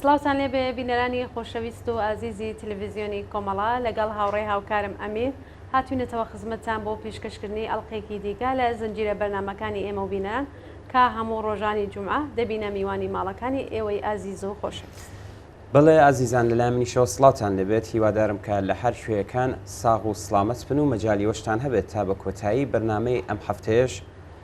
سڵاوتان لێبێ بینەرانی خۆشەویست و ئازیزی تلویزیۆنی کۆمەڵە لەگەڵ هاوڕێ هاوکارم ئەمیر هاتوینەتەوە خزمەتتان بۆ پیشکەشکردنی ئەڵقێکی دیکە لە زنجیرە بەرنامەکانی ئێمە و بینەران کە هەموو ڕۆژانی جومعە دەبینە میوانی ماڵەکانی ئێوەی ئازیز و خۆشەویست. بەڵێ ئازیزان لەلای منیشەوە سڵاوتان لێبێت هیوادارم کە لە هەر کوێیەکان ساغ و سڵامەت بن و مەجالی وەشتان هەبێت تا بە کۆتایی بەرنامەی ئەم هەفتەیەش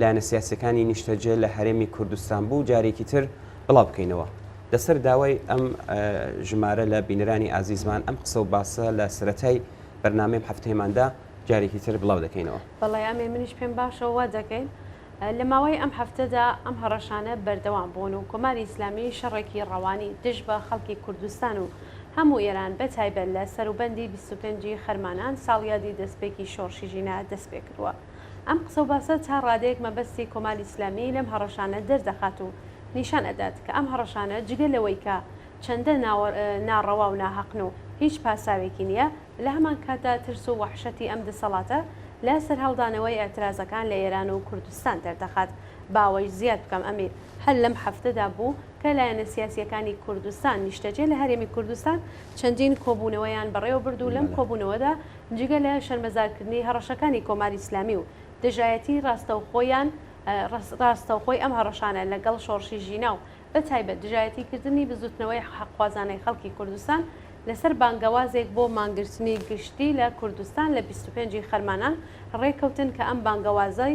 لایەنە سیاسەکانی نیشتەجێ لە هەرێمی کوردستان بوو جارێکی تر بڵاو بکەینەوە لەسەر داوای ئەم ژمارە لە بینەرانی ئازیزمان ئەم قسە و باسە لە سەتای بەرنمەی هەفتەیەماندا جارێکی تر بڵاو دەکەینەوە بەڵێ ئەمێ منیش پێم باشەوە دەکەین لە ماوەی ئەم هەفتەدا ئەم هەڕەشانە بەردەوام بوون و کۆماری ئیسلامی شەڕێکی ڕەوانی دژ بە خەڵکی کوردستان و هەموو ئێران بە تایبەت لە سەروبەندی 25 خەرمانان ساڵیادی دەستپێکی شۆڕشی ژینا دەست پێ کردووە. ئەم قسە و باسە تا ڕادەیەک مەبەستی کۆماری ئیسلامی لەم هەڕەشانە دەردەخات و نیشان ئەدات کە ئەم هەڕەشانە جگە لەوەی کە چەندە ناڕەوا و ناهەقن و هیچ پاساوێکی نیە، لە هەمان کاتدا ترس و وەحشەتی ئەم دەسەڵاتە لە سەرهەڵدانەوەی ئیعترازەکان لە ئێران و کوردستان دەردەخات. با ئەوەیش زیاد بکەم ئەمیر، هەر لەم هەفتەدا بوو، کە لایەنە سیاسییەکانی کوردستان نیشتەجێ لە هەرێمی کوردستان چەندین کۆبوونەوەیان بەڕێوەبرد و لەم کۆبوونەوەدا جگە لە شەرمەزارکردنی هەڕەشەکانی کۆماری ئیسلامی و دژایەتیی ڕاستەوخۆیان ڕاستەوخۆی ئەم هەڕەشانە لەگەڵ شۆڕشی ژینا و بەتایبەت دژایەتیکردنی بزووتنەوەی حەقخوازانەی خەڵکی کوردستان لەسەر بانگەوازێک بۆ مانگرتنی گشتی لە کوردستان لە بیست و پێنج ی خەرمانان ڕێککەوتن کە ئەم بانگەوازەی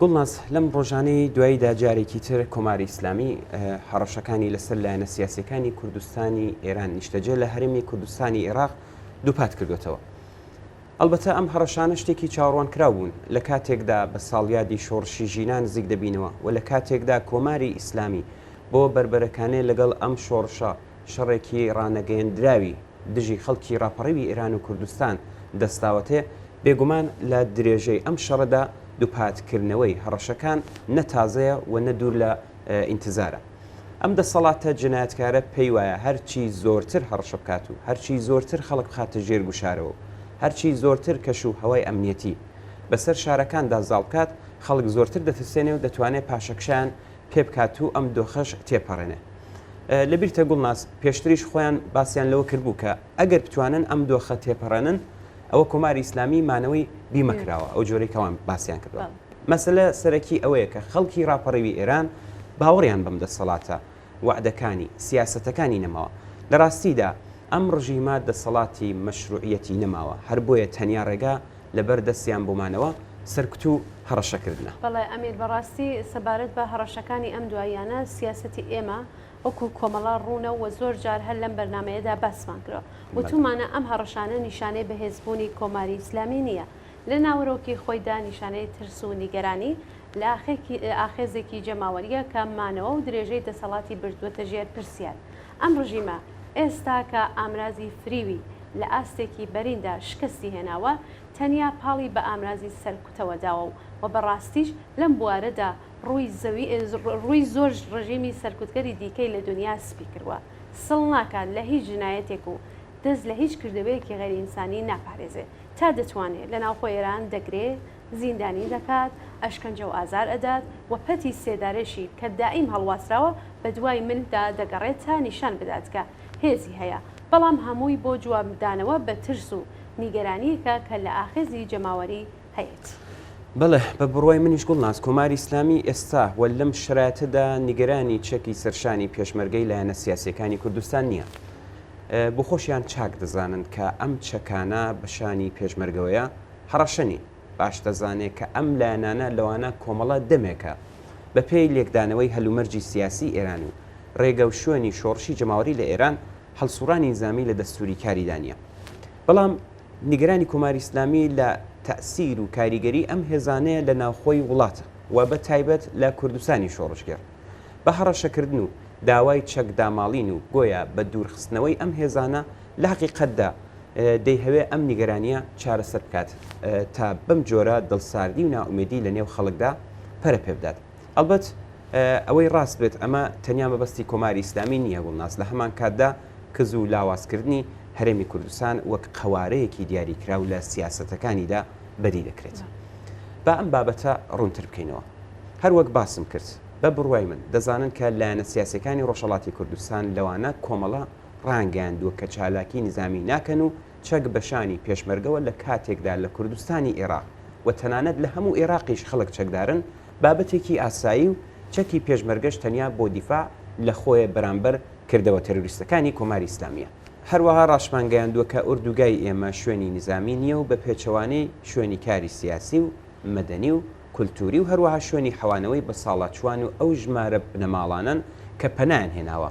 گوڵناز، لەم ڕۆژانەی دواییدا جارێکی تر کۆماری ئیسلامی هەڕەشەکانی لەسەر لایەنە سیاسەکانی کوردستانی ئێران نیشتەجێ لە هەرێمی کوردستانی عێراق دووپات کردوێتەوە. ئەلبەتە ئەم هەڕەشانە شتێکی چاوەڕوان کراو بوون لە کاتێکدا بە ساڵیادی شۆڕشی ژینا نزیک دەبینەوە و لە کاتێکدا کۆماری ئیسلامی بۆ بەربەرەکانێ لەگەڵ ئەم شۆڕشە شەڕێکی ڕانەگەیەندراوی دژی خەڵکی ڕاپەڕیوی ئێران و کوردستان دەستاوەتێ، بێگومان لە درێژەی ئەم شەڕەدا دووپاتکردنەوەی هەڕەشەکان نە تازەیە و نە دوور لە ئینتزارە. ئەم دەسەڵاتە جنایەتکارە پێی وایە هەرچی زۆرتر هەڕەشە بکات و هەرچی زۆرتر خەڵک بخاتە ژێر گوشارەوە و هەرچی زۆرتر کەش و هەوای ئەمنیەتی بەسەر شارەکاندا زاڵ بکات، خەڵک زۆرتر دەترسێنێ و دەتوانێ پاشەکشەیان پێبکات و ئەم دۆخەش تێپەڕێنێ. لەبیرتە گوڵناز پێشتریش خۆیان باسیان لەوە کردبوو کە ئەگەر بتوانن ئەم دۆخە تێپەڕێنن ئەوە کۆماری ئیسلامی مانەوەی بیمەکراوە ئەو جۆرەی کەوان باسیان کردووە. مەسلە سەرەکی ئەوەیە کە خەڵکی ڕاپەڕیوی ئێران باوەڕیان بەم دەسەڵاتە وەعدەکانی، سیاسەتەکانی نەماوە. لە ڕاستیدا ئەم ڕژیمە دەسەڵاتی مەشروعیەتی نەماوە، هەر بۆیە تەنیا ڕێگا لەبەر دەستیان بۆمانەوە سەرکوت و هەڕەشە کردنە. بەڵێ ئەمیر بەڕاستی سەبارەت بە هەڕەشەکانی ئەم دواییانە سیاسەتی ئێمە وەکو کۆمەڵە ڕوونە و زۆر جار هەر لەم بەرنامەیەدا باسمان کردوە. وتومانە ئەم هەڕەشانە نیشانەی بەهێزبوونی کۆماری ئیسلامی نییە لە ناوەرۆکی خۆیدا نیشانەی ترس و نیگەرانی لە ئاخێزێکی جەماوەرییە کە مانەوە و درێژەی دەسەڵاتی بردوەتە ژێر پرسیار. ئەم ڕژیمە ئێستا کە ئامرازی فریوی لە ئاستێکی بەریندا شکستی هێناوە، تەنیا پاڵی بە ئامرازی سەرکوتەوە داوە و وە بە ڕاستیش لەم بوارەدا ڕووی زەوی ڕووی زۆر ڕژیمی سەرکوتگەری دیکەی لە دونیا سپی کردوە. سڵ ناکات لە هیچ جنایەتێک و دەست لە هیچ کردەوەیەکی غەیرئینسانی ناپارێزێ تا دەتوانێ لە ناوخۆی ئێران دەگرێ، زیندانی دەکات، ئەشکەنجە و ئازار ئەدات و پەتی سێدارەشی کە دایم هەڵواسراوە بەدوای من دا دەگەڕێت تا نیشان بدات کە هێزی هەیە، بەڵام هەمووی بۆ جواب دانەوە بە ترس و نیگەرانییەکە کە لە ئاخێزی جەماوەری هەیەتی. بەڵێ بە بڕوای منیش گوڵناز کۆماری ئیسلامی ئێستا و لەم شەرایتە دا نیگەرانی چەکی سەرشانی پێشمەرگەی لایەنە سیاسییەکانی کوردستان نییە. بۆخۆشیان چاک دەزانن کە ئەم چەکانە بە شانی پێشمەرگەوەیە، هەڕەشە نین، باش دەزانێ کە ئەم لایەنانە لەوانە کۆمەڵە دەمێکە بە پێی لێکدانەوەی هەلومەرجی سیاسی ئێران و رێگە و شوێنی شۆڕشی جەماوەری لە ئێران هەڵسوڕانی نیزامی لە دەستووری کاریدا نیە بەڵام نیگەرانی کۆماری ئیسلامی لە تەئسیر و کاریگەری ئەم هێزانەیە لە ناوخۆی وڵاتە و بە تایبەت لە کوردستانی شۆڕشگێڕ بە هەڕەشە کردن و داوای چەک داماڵین و گۆیا بە دوور خستنەوەی ئەم هێزانە لە هەقیقەتدا دەیهەوێ ئەم نیگەرانییە چارەسەر بکات تا بەم جۆرە دڵساردی و نائومێدی لە نێو خەڵکدا پەرە پێ بدات. ئەڵبەت ئەوەی ڕاست بێت ئەمە تەنیا مەبەستی کۆماری ئیسلامی نییە، گوڵناز لە هەمان کاتدا کز و لاوازکردنی هەرێمی کوردستان وەک قەوارەیەکی دیاریکراو لە سیاسەتەکانیدا بەدی دەکرێت. با ئەم بابەتە ڕوونتر بکەینەوە. هەر وەک باسم کرد، بە بڕوای من دەزانن کە لایەنە سیاسییەکانی ڕۆژهەڵاتی کوردستان لەوانە کۆمەڵە، ڕایانگەیاندووە کە چالاکی نیزامی ناکەن و چەک بە شانی پێشمەرگەوە لە کاتێکدا لە کوردستانی ئێراق و تەنانەت لە هەموو ئێراقیش خەڵک چەکدارن بابەتێکی ئاسایی و چەکی پێشمەرگەش تەنیا بۆ دیفاع لە خۆیە بەرامبەر کردەوە تێرۆریستەکانی کۆماری ئیسلامییە. هەروەها ڕاشمانگەیاندووە کە ئۆردوگای ئێمە شوێنی نیزامی نییە و بە پێچەوانەی شوێنی کاری سیاسی و مەدەنی و کولتووری و هەروەها شوێنی حەوانەوەی بەساڵاچووان و ئەو ژمارە بنەماڵانەن کە پەنایان هێناوە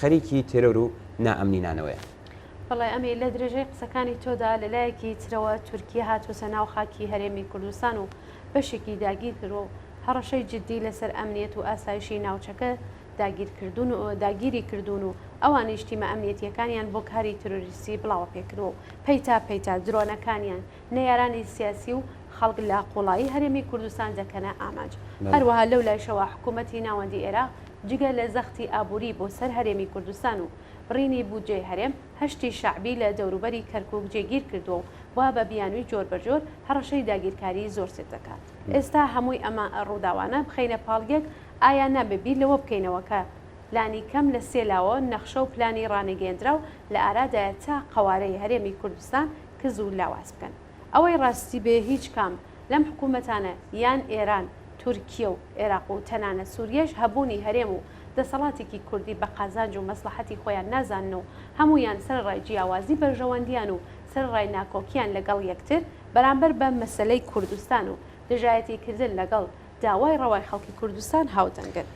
خەریکی تێرۆر و نائەمنینانەوەیە. بەڵێ ئەمیر، لە درێژەی قسەکانی تۆدا لە لایەکی ترەوە تورکیە هاتووەتە ناو خاکی هەرێمی کوردستان و بەشێکی داگیر کردووە و هەڕەشەی جددی لەسەر ئەمنیەت و ئاسایشی ناوچەکە داگیری کردوون و ئەوانیش تیمە ئەمنیەتییەکانیان بۆ کاری ترۆریستی بڵاوەپێکردووە و پەیتا پەیتا درۆنەکانیان نەیارانی سیاسی و خەڵک لە قوڵایی هەرێمی کوردستان دەکەنە ئامانج. هەروەها لەو لایشەوە حکوومەتی ناوەندی عێراق جگە لە زەختی ئابووری بۆ سەر هەرێمی کوردستان و بڕینی بودجەی هەرێم، هەشتی شەعبی لە دەوروبەری کەرکووک جێگیر کردووە و وا بە بیانووی جۆربەجۆر هەڕەشەی داگیرکاریی زۆر سفت دەکات. ئێستا هەمووی ئەمە ڕووداوانە بخەینە پاڵ یەک، ئایا نابێ بیر لەوە بکەینەوە کە لانی کەم لە سێ لاوە نەخشە و پلانی ڕانەگەیەندراو لە ئارادایە تا قەوارەی هەرێمی کوردستان کز و لاواز بکەن ئەوەی ڕاستی بێ هیچ کام لەم حکومەتانە یان ئێران تورکیە و ئێراق و تەنانەت سوریەش هەبوونی هەرێم و دەسەڵاتێکی کوردی بە قازانج و مەسڵەحەتی خۆیان نازانن و هەموویان سەرەڕای جیاوازی بەرژەوەندیان و سەرەڕای ناکۆکیان لەگەڵ یەکتر بەرامبەر بە مەسەلەی کوردستان و دژایەتی کردن لەگەڵ داوای ڕەوای خەڵکی کوردستان هاودەنگن.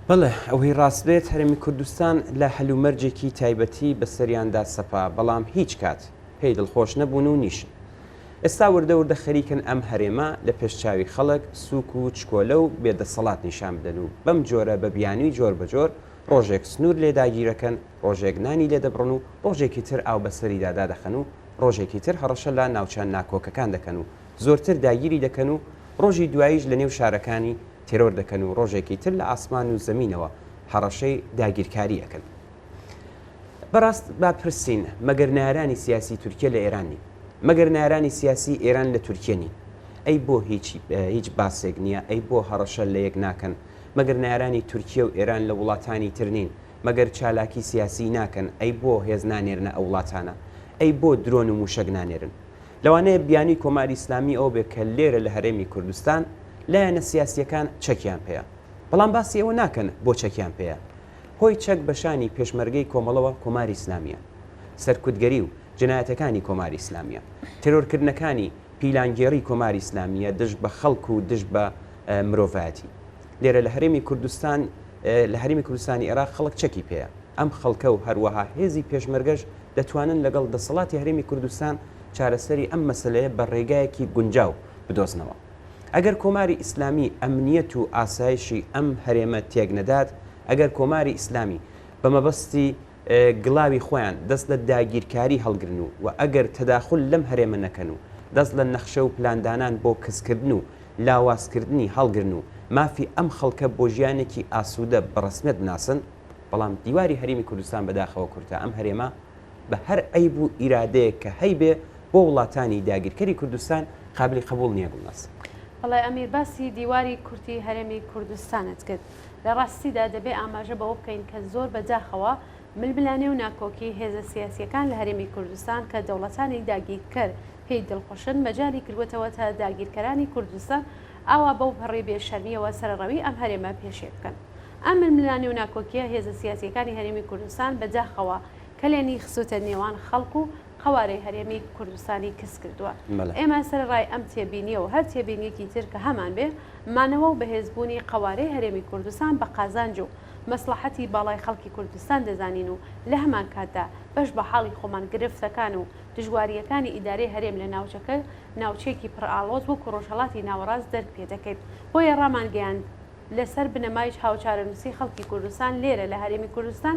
بەڵێ ئەوەی ڕاست بێت هەرێمی کوردستان لە هەل و مەرجێکی تایبەتی بەسەریاندا سەپا بەڵام هیچ کات پێی دڵخۆش نەبوون و نیشن. ئێستا وردە وردە خەریکن ئەم هەرێمە لە پێش چاوی خەڵک سووک و چکۆلە و بێ دەسەڵات نیشان بدەن و بەم جۆرە بە بیانووی جۆر بە جۆر ڕۆژێک سنوور لێ داگیرەکەن ڕۆژێک نانی لێ دەبڕن و ڕۆژێکی تر ئاو بەسەریدا دادەخەن و ڕۆژێکی تر هەڕەشە لە ناوچە ناکۆکەکان دەکەن و زۆرتر داگیری دەکەن و ڕۆژی دواییش لەنێو شارەکانی تێرۆر دەکەن و ڕۆژێکی تر لە ئاسمان و زەمینەوە هەڕەشەی داگیرکاری ئەکەن. بەڕاست با بپرسین مەگەر نارانی سیاسی تورکیە لە ئێران نین؟ مەگەر نارانی سیاسی ئێران لە تورکیە نین؟ ئەی بۆ هیچ هیچ باسێک نییە؟ ئەی بۆ هەڕەشە لە یەک ناکەن؟ مەگەر نارانی تورکیە و ئێران لە وڵاتانی تر نین؟ مەگەر چالاکی سیاسی ناکەن؟ ئەی بۆ هێز نانێرنە ئەو وڵاتانە؟ ئەی بۆ درۆن و مووشەک نانێرن؟ لەوانەیە بیانووی کۆماری ئیسلامی ئەوە بێت کە لێرە لە هەرێمی کوردستان لایەنە سیاسییەکان چەکیان پێیە، بەڵام باسی ئەوە ناکەن بۆ چەکیان پێیە؟ هۆی چەک بە شانی پێشمەرگەی کۆمەڵەوە کۆماری ئیسلامییە. سەرکوتگەری و جنایەتەکانی کۆماری ئیسلامییە. تێرۆرکردنەکانی پیلانگێڕی کۆماری ئیسلامییە دژ بە خەڵک و دژ بە مرۆڤایەتی. لێرە لە هەرێمی کوردستان لە هەرمی کوردستانی عێراق خەڵک چەکی پێەیە ئەم خەڵکە و هەروەها هێزی پێشمەرگەش دەتوانن لەگەڵ دەسەڵاتی هەرێمی کوردستان چارەسەری ئەم مەسلەیە بە ڕێگایەکی گونجاو بدۆزنەوە ئەگەر کۆماری ئیسلامی ئەمنیەت و ئاسایشی ئەم هەرێمە تێک نەدات ئەگەر کۆماری ئیسلامی بە مەبەستی گڵاوی خۆیان دەست لە داگیرکاری هەڵگرن و و ئەگەر تەداخول لەم هەرێمە نەکەن و دەست لە نەخشە و پلاندانان بۆ کزکردن و لاوازکردنی هەڵگرن و مافی ئەم خەڵکە بۆ ژیانێکی ئاسوودە بە ڕەسمیەت بناسن، بەڵام دیواری هەرێمی کوردستان بەداخەوە کورتە ئەم هەرێمە بە هەر عەیب و ئیرادەیەک کە هەیبێ بۆ وڵاتانی داگیرکەری کوردستان قابلی قبوڵ نیە گوڵناز. بەڵێ ئەمیر باسی دیواری کورتی هەرێمی کوردستانت کرد. لە ڕاستیدا دەبێ ئاماژە بەوە بکەین کە زۆر بە داخەوە ململانێ و ناکۆکی هێزە سیاسییەکان لە هەرێمی کوردستان کە دەوڵەتانی داگیرکەر پێی دڵخوشن مەجالی کردووەتەوە تا داگیرکەرانی کوردستان ئاوا بەو پەڕی بێ شەرمییەوە سەرەڕەوی ئەم هەرێمە پێشێ بکەن. ئەم ململانێ و ناکۆکییە هێزە سیاسییەکانی هەرێمی کوردستان بە داخەوە کەلێنی خستووتە نێوان خەڵک و قەوارەی هەرێمی کوردستانی کز کردووە. ئێمە سەرەڕای ئەم تێبینییە و هەر تێبینییەکی تر کە هەمان بێ، مانەوە و بەهێزبوونی قەوارەی هەرێمی کوردستان بە قازانج و مەسڵەحەتی باڵای خەڵکی کوردستان دەزانین و لە هەمانکاتدا بەش بە حاڵی خۆمان گرفتەکان و دژوارییەکانی ئیدارەی هەرێم لە ناوچەکە ناوچەیەکی پڕ ئاڵۆز وەکو ڕۆژهەڵاتی ناوەڕاست دەرک پێ دەکەین بۆیە ڕامانگەیاند لەسەر بنەمایچ هاوچارەنووسی خەڵکی کوردستان لێرە لە هەرێمی کوردستان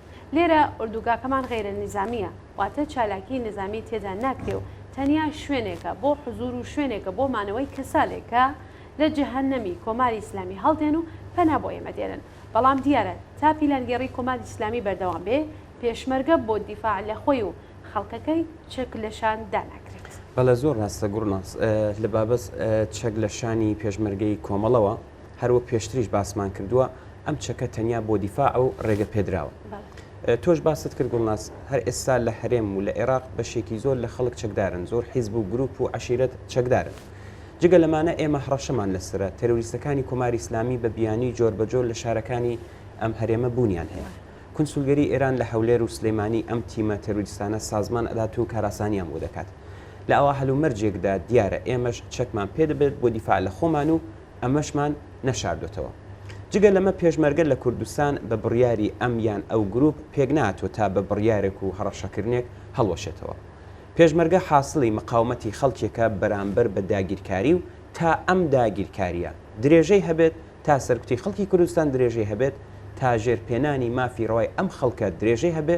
لێرە ئۆردوگاکەمان غەیرە نیزامییە، واتە چالاکیی نیزامی تێدا ناکرێ و تەنیا شوێنێکە بۆ حزوور و شوێنێکە بۆ مانەوەی کەسانێک کە لە جەهەنەمی کۆماری ئیسلامی هەڵدێن و پەنا بۆ ئێمە دێنن. بەڵام دیارە تا پیلانگێڕیی کۆماری ئیسلامی بەردەوام بێ، پێشمەرگە بۆ دیفاع لە خۆی و خەڵکەکەی چەک لە شان داناگرێت. بەڵێ زۆر ڕاستە گوڵناز، لە بابەت چەک لە شانی پێشمەرگەی کۆمەڵەوە، هەر وەک پێشتریش باسمان کردووە ئەم چەکە تەنیا بۆ دیفاع و ڕێگە پێدراوە تۆش باست کرد گوڵناس هەر ئێستا لە هەرێم و لە عێراق بەشێکی زۆر لە خەڵک چەکدارن زۆر حیزب و گروپ و عشیرەت چەکدارن جگە لەمانە ئێمە هەڕەشەمان لەسرە تەروریستەکانی کۆماری ئسلامی بە بیانی جۆر بە جۆر لە شارەکانی ئەم هەرێمە بوونیان هەیە کنسولگەری ئێران لە هەولێر و سلەیمانی ئەم تیمە تەروریستانە سازمان ئەدات و کاراسانیان بۆ دەکات لە ئەوە هەلومەرجێکدا دیارە ئێمەش چەکمان پێدەبێت بۆ دیفاع لە خۆمان و ئەمەشمان نەشاردۆتەوە. جگە لەمە پێشمەرگە لە کوردستان بە بڕیاری ئەم یان ئەو گروپ پێک ناتوە تا بە بڕیارێک و هەڕەشەکردنێک هەڵوەشێتەوە. پێشمەرگە حاسڵی مقاومەتی خەڵکێکە بەرامبەر بە داگیرکاری و تا ئەم داگیرکاریە درێژەی هەبێت، تا سەرکوتی خەڵکی کوردستان درێژەی هەبێت، تا ژێر پێنانی مافی ڕەوای ئەم خەڵکە درێژەی هەبێ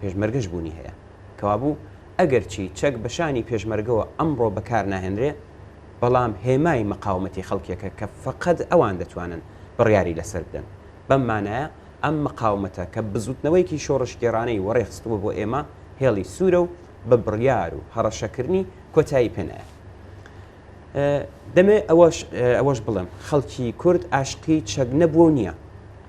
پێشمەرگەش بونی هەیە. کەوابو ئەگەرچی چەک بە شانی پێشمەرگەوە ئەمڕۆ بەکار ناهێنرێ، بەڵام هێمای مەقاومەتی خەڵکێکە کە فەقەد ئەوان دەتوانن بڕیاری لەسەر بدەن. بەم مانایە ئەم مەقاومەتە کە بزوتنەوەیەکی شۆڕشگێڕانەی وەڕێ خستووە بۆ ئێمە هێڵی سوورە و بە بڕیار و هەڕەشەکردنی کۆتایی پێ نایە. دەمەوێت ئەوەش بڵێم خەڵکی کورد ئاشقی چەک نەبووە و نییە،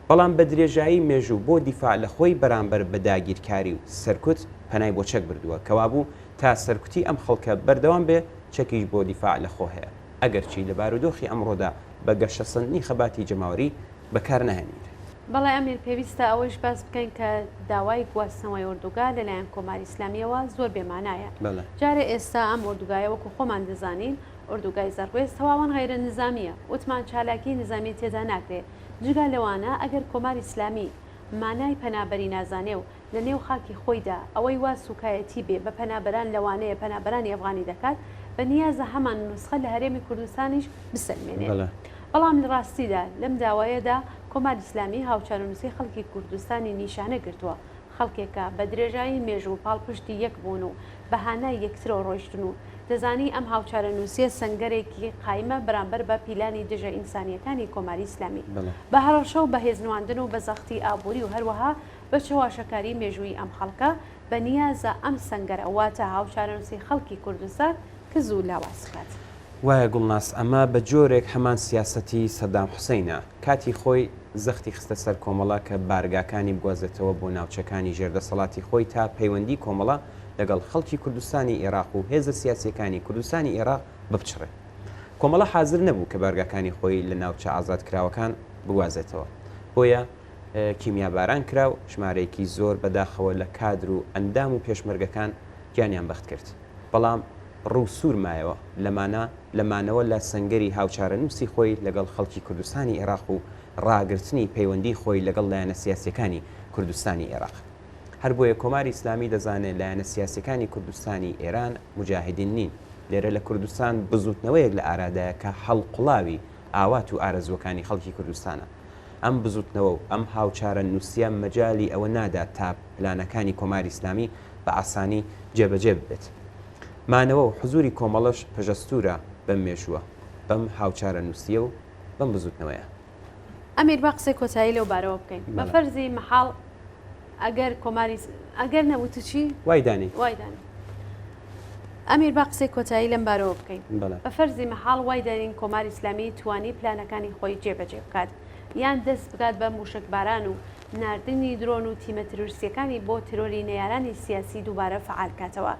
بەڵام بە درێژایی مێژوو بۆ دیفاع لە خۆی بەرامبەر بە داگیرکاری و سەرکوت پەنای بۆ چەک بردووە، کەوابوو تا سەرکوتی ئەم خەڵکە بەردەوام بێ، چەکیش بۆ دیفاع لە خۆ هەیە، ئەگەرچی لە بارودۆخی ئەمڕۆدا بە گەشەسەندنی خەباتی جەماوەری بەکار ناهێنرێ. بەڵێ ئەمیر، پێویستە ئەوەیش باس بکەین کە داوای گواستنەوەی ئۆردوگا لە لایەن کۆماری ئیسلامییەوە زۆر بێ مانایە. جارێ ئێستا ئەم ئۆردوگایە وەکوو خۆمان دەزانین، ئۆردوگای زەڕوێز تەواوەن غەیرە نیزامییە، وتمان چالاکیی نیزامی تێدا ناکرێ. جگە لەوانە ئەگەر کۆماری ئیسلامی مانای پەنابەری نازانێ و لە نێو خاکی خۆیدا ئەوەی وا سووکایەتی بێ بە پەنابەران لەوانەیە پەنابەرانی ئەفغانی دەکات، بە نیازە هەمان نوسخە لە هەرێمی کوردستانیش بسەلمێنێت. بەڵام لە ڕاستیدا لەم داوایەدا کۆماری ئیسلامی هاوچارونوسی خەڵکی کوردستانی نیشانە گرتووە، خەڵکێکە بە درێژایی مێژوو پاڵپشتی یەک بوون و بە هانای یەکترەوە ڕۆیشتن و دەزانی ئەم هاوچارەنوسیە سەنگەرێکی قایمە بەرامبەر بە پیلانی دژە ئینسانیەکانی کۆماری ئیسلامی بە هەڕەشە و بە هێزنواندن و بە زەختی ئابووری و هەروەها بە چەواشەکاری مێژوویی ئەم خەڵکە، بە نیازە ئەم سەنگەرە واتە هاوچارەنووسی خەڵکی کوردستان کز و لاواز بکات. وایە گوڵناز ئەمە بە جۆرێک هەمان سیاسەتی سەدام حوسەینە کاتی خۆی زەختی خستە سەر کۆمەڵە کە بارگاکانی بگوازێتەوە بۆ ناوچەکانی ژێر دەسەڵاتی خۆی تا پەیوەندی کۆمەڵە لەگەڵ خەڵکی کوردستانی ئێڕاق و هێزە سیاسیەکانی کوردستانی ئێڕاق بپچڕێ کۆمەڵە حازر نەبوو کە بارگاکانی خۆی لە ناوچە ئازاد کراوەکان بگوازێتەوە بۆیە کیمیاباران کرا و ژمارەیەکی زۆر بەداخەوە لە کادر و ئەندام و پێشمەرگەکان گیانیان بەخت کرد بەڵام ڕوو سوور مایەوە لەمانە لە مانەوە لە سەنگەری هاوچارەنووسی خۆی لەگەڵ خەڵکی کوردستانی ئێراق و ڕاگرتنی پەیوەندی خۆی لەگەڵ لایەنە سیاسیەکانی کوردستانی ئێراق هەر بۆیە کۆماری ئیسلامی دەزانێ لایەنە سیاسیەکانی کوردستانی ئێران موجاهدین نین لێرە لە کوردستان بزووتنەوەیەک لە ئارادایە کە هەڵقوڵاوی ئاوات و ئارەزووەکانی خەڵکی کوردستانە. ئەم بزوتنەوە و ئەم هاوچارە نوسیە مەجالی ئەوە نادات تا پلانەکانی کۆماری ئیسلامی بە ئاسانی جێبەجێ ببێت. مانەوە و حزوری کۆمەڵەش پەژەستورە بەم مێژوە، بەم هاوچارە نوسیە و بەم بزوتنەوەیە. ئەمیر با قسەی کۆتایی لەو بارەوە بکەین. بە فەرزی مەحاڵ. ئەگەر کۆماری س ئەگەر نەبوو تو چی؟ وای دانی. وای دانی. ئەمیر با قسەی کۆتایی لەم بارەوە بکەین. بەڵێ. بە فەرزی مەحاڵ وای دانین کۆماری ئیسلامی توانی پلانەکانی خۆی جێ بەجێ بکات یان دەست بگات بە مووشەکباران و ناردنی درۆن و تیمە ترۆریستیەکانی بۆ ترۆری نەیارانی سیاسی دووبارە فەعال کاتەوە.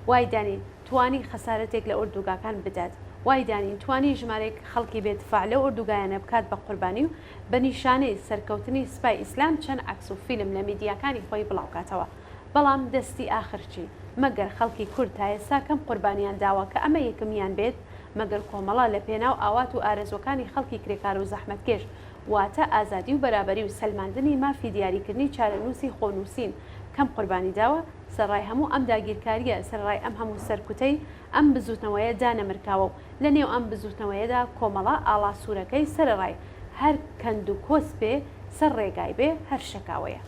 وای دانین توانی خەسارەتێک لە ئۆردوگاکان بدات. وای دانین توانی ژمارەیەک خەڵکی بێ دفاع لەو ئۆردوگایانە بکات بە قوربانی و بە نیشانەی سەرکەوتنی سپای ئیسلام چەند عەکس و فیلم لە میدیاکانی خۆی بڵاوکاتەوە. بەڵام دەستی ئاخر چی؟ مەگەر خەڵکی کورد تا ئێستا کەم قوربانیان داوە کە ئەمە یەکمیان بێت؟ مەگەر کۆمەڵە لە پێناو ئاوات و ئارەزوەکانی خەڵکی کرێکار و زەحمەتکێش واتە ئازادی و بەرابەری و سەلماندنی مافی دیاریکردنی چارەنوسی خۆ نوسین کەم قوربانی داوە؟ سەرڕای هەموو ئەم داگیرکاریە، سەرڕای ئەم هەموو سەرکوتەی، ئەم بزووتنەوەیە دانەمرکاوە و لە نێو ئەم بزووتنەوەیەدا کۆمەڵە ئاڵا سوورەکەی سەرەڕای هەر کەند و کۆست بێ سەر ڕێگای بێ هەر شەکاوەیە.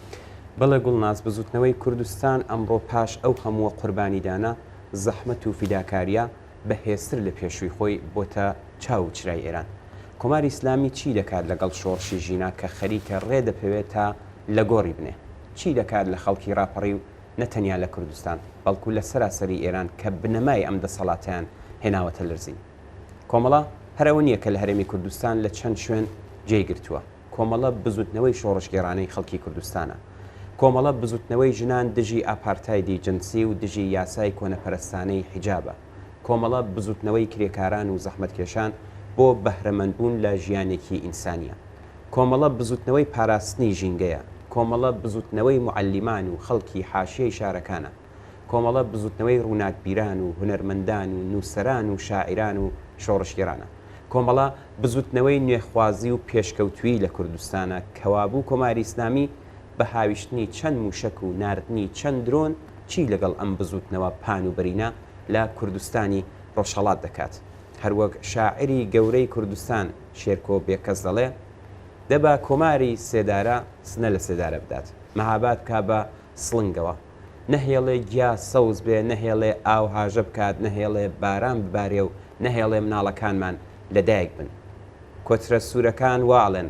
بەڵێ گوڵناز، بزووتنەوەی کوردستان ئەمڕۆ پاش ئەو هەمووە قوربانیدانە، زەحمەت و فیداکارییە، بە هێزتر لە پێشووی خۆی بۆتە چاو و چرای ئێران. کۆماری ئیسلامی چی دەکات لەگەڵ شۆڕشی ژینا کە خەریکە ڕێ دەپێوێ تا لە گۆڕی بنێ؟ چی دەکات لە خەڵکی ڕاپەڕیو نە تەنیا لە کوردستان، بەڵکو لە سەراسەری ئێران کە بنەمای ئەم دەسەڵاتەیان هێناوەتە لرزین. کۆمەڵە هەر ئەوە نییە کە لە هەرێمی کوردستان لە چەند شوێن جێی گرتووە. کۆمەڵە بزووتنەوەی شۆڕشگێڕانەی خەڵکی کوردستانە. کۆمەڵە بزووتنەوەی ژنان دژی ئاپارتایدی جنسی و دژی یاسای کۆنەپەرستانەی حیجابە. کۆمەڵە بزوتنەوەی کرێکاران و زەحمەتکێشان بۆ بەهرەمەندبوون لە ژیانێکی ئینسانیە. کۆمەڵە بزوتنەوەی پاراستنی ژینگەیە. کۆمەڵە بزوتنەوەی معەلیمان و خەڵکی حاشیەی شارەکانە. کۆمەڵە بزوتنەوەی ڕوناکبیران و هونەرمەندان و نوسەران و شاعیران و شۆڕشگێرانە. کۆمەڵە بزوتنەوەی نوێخوازی و پێشکەوتویی لە کوردستانە کەوابوو کۆماری ئیسلامی بە هاویشتنی چەند مووشەک و ناردنی چەند درۆن چی لەگەڵ ئەم بزووتنەوە پان و بەرینە لە کوردستانی ڕۆژهەڵات دەکات؟ هەروەک شاعیری گەورەی کوردستان شێرکۆ بێکەس دەڵێ، دە با کۆماری سێدارە سنە لە سێدارە بدات، مەهاباد بکا بە سڵنگەوە. نەهێڵێ گیا سەوز بێ، نەهێڵێ ئاو هاژە بکات، نەهێڵێ باران ببارێ و نەهێڵێ مناڵەکانمان لەدایک بن. کۆترە سوورەکان وا ئەڵێن.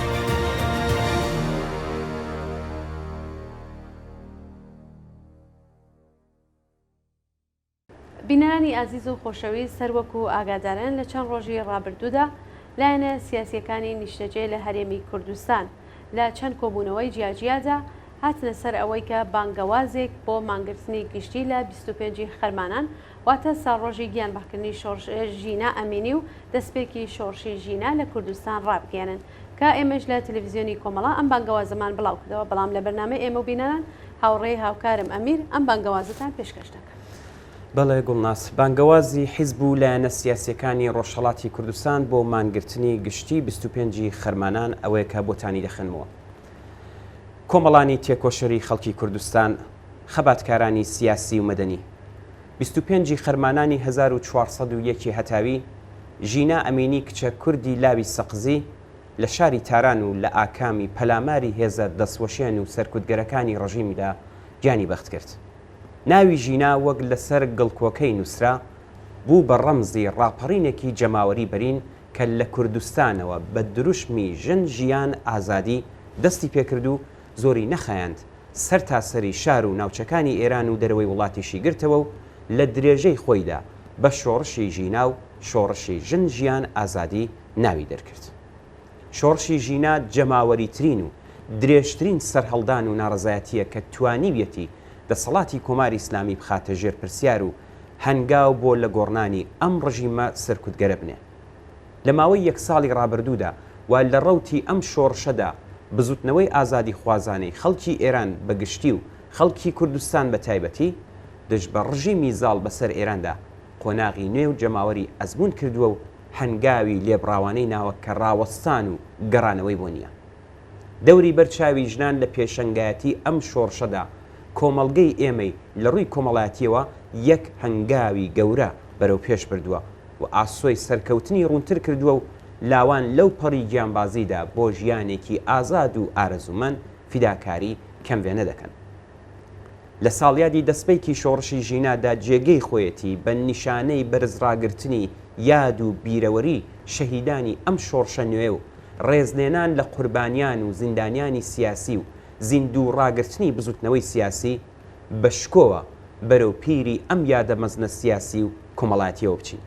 بینەرانی ئازیز و خۆشەویست هەر وەکو ئاگادارن لە چەند ڕۆژی ڕابردوودا لایەنە سیاسییەکانی نیشتەجێ لە هەرێمی کوردستان لە چەند کۆبوونەوەی جیاجیادا هاتنە سەر ئەوەی کە بانگەوازێک بۆ مانگرتنی گشتی لە بیست و پێنج ی خەرمانان واتە ساڵڕۆژی گیانبەختکردنی شۆڕش ژینا ئەمینی و دەستپێکی شۆڕشی ژینا لە کوردستان ڕابگەیەنن کە ئێمەش لە تەلەفزیۆنی کۆمەڵە ئەم بانگەوازەمان بڵاوکردەوە بەڵام لە بەرنامەی ئێمە و بینەران هاوڕێی هاوکارم ئەمیر ئەم بانگەوازەتان پێشکەش دەکەم. بەڵێ گوڵناز، بانگەوازی حیزب و لایەنە سیاسییەکانی ڕۆژهەڵاتی کوردستان بۆ مانگرتنی گشتی بیست و پێنج ی خەرمانان ئەوەیە کە بۆتانی دەخوێنمەوە. کۆمەڵانی تێکۆشەری خەڵکی کوردستان، خەباتکارانی سیاسی و مەدەنی. بیست و پێنج ی خەرمانانی هەزار و چوار سەد و یەک ی هەتاوی، ژینا ئەمینی کچە کوردی لاوی سەقزی لە شاری تاران و لە ئاکامی پەلاماری هێزە دەستوەشێن و سەرکوتگەرەکانی ڕژیمدا گیانی بەخت کرد. ناوی ژینا وەک لەسەر گڵکۆکەی نووسرا، بوو بە ڕەمزی ڕاپەڕینێکی جەماوەری بەرین کە لە کوردستانەوە بە دروشمی ژن ژیان ئازادی دەستی پێکرد و زۆری نەخایاند سەرتاسەری شار و ناوچەکانی ئێران و دەرەوەی وڵاتیشی گرتەوە و لە درێژەی خۆیدا بە شۆڕشی ژینا و شۆڕشی ژن ژیان ئازادی ناوی دەرکرد. شۆڕشی ژینا جەماوەریترین و درێژترین سەرهەڵدان و ناڕەزایەتییە کە توانیویەتی دەسەڵاتی کۆماری ئیسلامی بخاتە ژێر پرسیار و هەنگاو بۆ لە گۆڕنانی ئەم ڕژیمە سەرکوتگەرە بنێ. لە ماوەی یەک ساڵی ڕابردوودا و لە ڕەوتی ئەم شۆڕشەدا بزوتنەوەی ئازادیخوازانەی خەڵکی ئێران بە گشتی و خەڵکی کوردستان بە تایبەتی دژ بە ڕژیمی زاڵ بە سەر ئێراندا قۆناغی نوێ و جەماوەری ئەزموون کردووە و هەنگاوی لێبڕاوانەی ناوە کە ڕاوەستان و گەڕانەوەی بۆ نییە. دەوری بەر چاوی ژنان لە پێشەنگایەتی ئەم شۆڕشەدا، کۆمەڵگەی ئێمەی لە ڕووی کۆمەڵایەتییەوە یەک هەنگاوی گەورە بەرەو پێش بردووە و ئاسۆی سەرکەوتنی ڕوونتر کردووە و لاوان لەو پەڕی گیانبازیدا بۆ ژیانێکی ئازاد و ئارەزوومەند فیداکاری کەم وێنە دەکەن. لە ساڵیادی دەسپێکی شۆڕشی ژینادا جێگەی خۆیەتی بە نیشانەی بەرز ڕاگرتنی یاد و بیرەوەری شەهیدانی ئەم شۆڕشە نوێ و ڕێزلێنان لە قوربانیان و زیندانیانی سیاسی و زیندوو ڕاگرتنی بزوتنەوەی سیاسی بە شکۆوە بەرەو پیری ئەم یادە مەزنە سیاسی و کۆمەڵایەتیەوە بچین.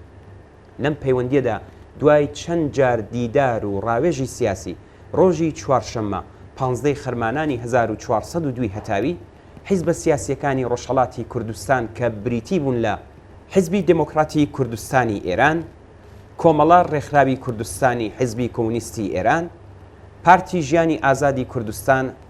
لەم پەیوەندییەدا دوای چەند جار دیدار و ڕاوێژی سیاسی، ڕۆژی چوارشەممە پانزدەی خەرمانانی هەزار و چوار سەد و دوو هەتاوی حیزبە سیاسییەکانی ڕۆژهەڵاتی کوردستان کە بریتی بوون لە، حیزبی دێمۆکڕاتی کوردستانی ئێران، کۆمەڵە ڕێکخراوی کوردستانی حیزبی کۆمۆنیستی ئێران، پارتی ژیانی ئازادی کوردستان،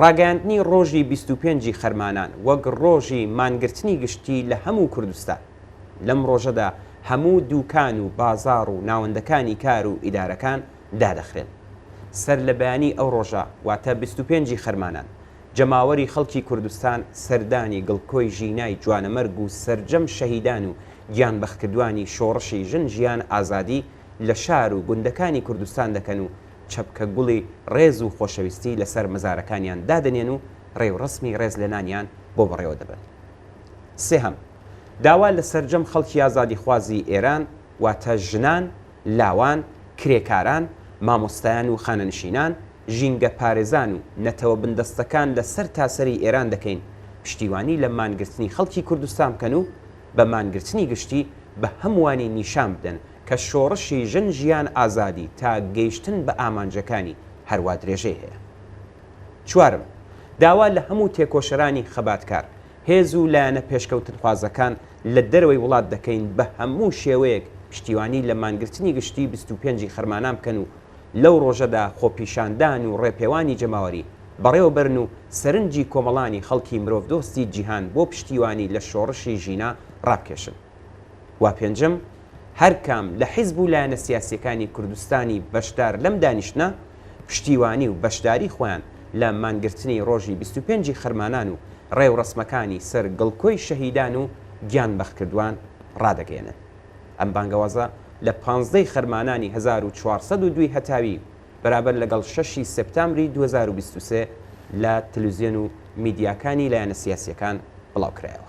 ڕاگەیاندنی ڕۆژی بیست و پێنج ی خەرمانان وەک ڕۆژی مانگرتنی گشتی لە هەموو کوردستان. لەم ڕۆژەدا هەموو دووکان و بازاڕ و ناوەندەکانی کار و ئیدارەکان دادەخرێن. سەر لە بەیانی ئەو ڕۆژە واتە بیست و پێنج ی خەرمانان جەماوەری خەڵکی کوردستان سەردانی گڵکۆی ژینای جوانەمەرگ و سەرجەم شەهیدان و گیانبەختکردوانی شۆڕشی ژن ژیان ئازادی لە شار و گوندەکانی کوردستان دەکەن و چەپکە گوڵی ڕێز و خۆشەویستی لەسەر مەزارەکانیان دادەنێن و ڕێوڕەسمی ڕێزلێنانیان بۆ بەڕێوە دەبەن. سێهەم، داوا لە سەرجەم خەڵکی ئازادیخوازی ئێران، واتە ژنان، لاوان، کرێکاران، مامۆستایان و خانەنشینان، ژینگەپارێزان و نەتەوە بندەستەکان لە سەرتاسەری ئێران دەکەین پشتیوانی لە مانگرتنی خەڵکی کوردستان بکەن و بە مانگرتنی گشتی بە هەمووانی نیشان بدەن کە شۆڕشی ژن ژیان ئازادی تا گەیشتن بە ئامانجەکانی هەروا درێژەی هەیە. چوارەم، داوا لە هەموو تێکۆشەرانی خەباتکار، هێز و لایەنە پێشکەوتنخوازەکان لە دەرەوەی وڵات دەکەین بە هەموو شێوەیەک پشتیوانی لە مانگرتنی گشتیی بیست و پێنج ی خەرمانان بکەن و لەو ڕۆژەدا خۆپیشاندان و ڕێپێوانی جەماوەری بەڕێوەبەرن و سەرنجی کۆمەڵانی خەڵکی مرۆڤدۆستی جیهان بۆ پشتیوانی لە شۆڕشی ژینا ڕابکێشن. و پێنجەم، هەرکام لە حیزب و لایەنە سیاسییەکانی کوردستانی بەشدار لەم دانیشتنە، پشتیوانی و بەشداری خۆیان لە مانگرتنی ڕۆژی بیست و پێنج ی خەرمانان و ڕێوڕەسمەکانی سەر گڵکۆی شەهیدان و گیان بەختکردوان ڕادەگەیەنن. ئەم بانگەوازە لە پانزدە ی خەرمانانی هەزار و چوار سەد و دوو هەتاوی بەرابەر لەگەڵ شەش ی سێپتامبری دوو هەزار و بیست و سێ لە تەلوزیۆن و میدیاکانی لایەنە سیاسییەکان بڵاوکرایەوە.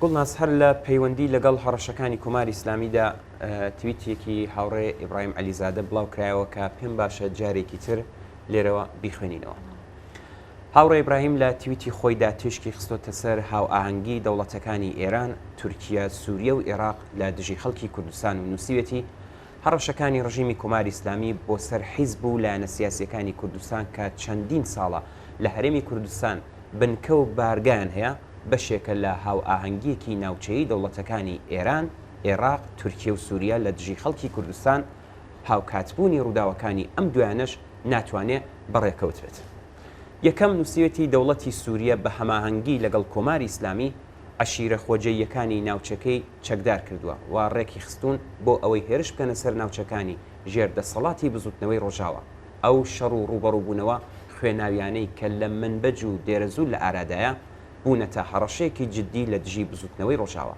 گوڵناز هەر لە پەیوەندی لەگەڵ هەڕەشەکانی کۆماری ئیسلامیدا تویتێکی هاوڕێ ئیبراهیم عەلیزادە بڵاوکرایەوە کە پێم باشە جارێکی تر لێرەوە بیخوێنینەوە. هاوڕێ ئیبراهیم لە تویتی خۆیدا تیشکی خستۆتە سەر هاوئاهەنگی دەوڵەتەکانی ئێران، تورکیا، سووریە و ئێراق لە دژی خەڵکی کوردستان و نووسیوێتی هەڕەشەکانی ڕژیمی کۆماری ئیسلامی بۆ سەر حیزب و لایەنە سیاسییەکانی کوردستان کە چەندین ساڵە لە هەرێمی کوردستان بنکە و بارگایان هەیە، بەشێکە لە هاوئاهەنگییەکی ناوچەیی دەوڵەتەکانی ئێران، ئێراق، تورکیە و سووریە لە دژی خەڵکی کوردستان، هاوکاتبوونی ڕووداوەکانی ئەم دوایانەش ناتوانێ بە ڕێکەوت بێت. یەکەم، نووسیوێتی دەوڵەتی سووریە بە هەماهەنگی لەگەڵ کۆماری ئیسلامی، عەشیرە خۆجێییەکانی ناوچەکەی چەکدار کردووە و ڕێکیخستوون بۆ ئەوەی هێرش بکەنە سەر ناوچەکانی ژێر دەسەڵاتی بزووتنەوەی ڕۆژاوا. ئەو شەڕ و ڕووبەڕووبوونەوە خوێناوییانەی کە لە منبج و دێرەزوور لە ئارادایە، بوونەتە هەڕەشەیەکی جددی لە دژی بزووتنەوەی ڕۆژاوا.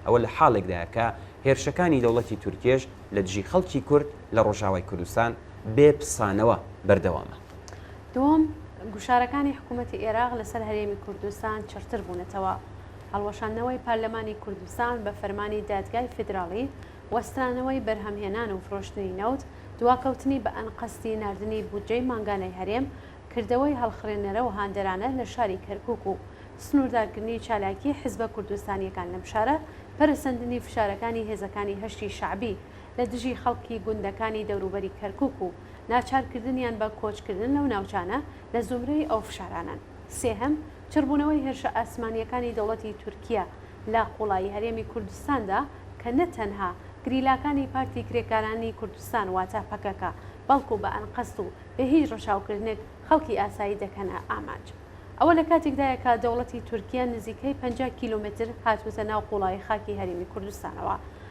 ئەوە لە حاڵێکدایە کە هێرشەکانی دەوڵەتی تورکیەش لە دژی خەڵکی کورد لە ڕۆژاوای کوردستان بێ پسانەوە بەردەوامە. دووەم، گوشارەکانی حکوومەتی ئێراق لەسەر هەرێمی کوردستان چڕتر بوونەتەوە. هەڵوەشاندنەوەی پارلەمانی کوردستان بە فەرمانی دادگای فیدراڵی، وەسترانەوەی بەرهەمهێنان و فرۆشتنی نەوت، دواکەوتنی بە ئەنقەستی ناردنی بودجەی مانگانەی هەرێم، کردەوەی هەڵخڕێنەرە و هاندەرانە لە شاری کەرکووک و سنووردارکردنی چالاکیی حیزبە کوردستانییەکان لەم شارە، پەرەسەندنی فشارەکانی هێزەکانی هەشدی شەعبی لە دژی خەڵکی گوندەکانی دەوروبەری کەرکووک و ناچارکردنیان بە کۆچکردن لەو ناوچانە لە زومرەی ئەو فشارانەن. سێهەم، چڕبوونەوەی هێرشە ئاسمانییەکانی دەوڵەتی تورکیە لە قوڵایی هەرێمی کوردستاندا کە نە تەنها گریلاکانی پارتی کرێکارانی کوردستان واتە پەکەکە بەڵکو بە ئەنقەست و بێ هیچ ڕەچاوکردنێک خەڵکی ئاسایی دەکەنە ئامانج. ئەوە لە کاتێکدایە کە دەوڵەتی تورکیە نزیکەی پەنجا کیلۆمەتر هاتووتە ناو قوڵایی خاکی هەرێمی کوردستانەوە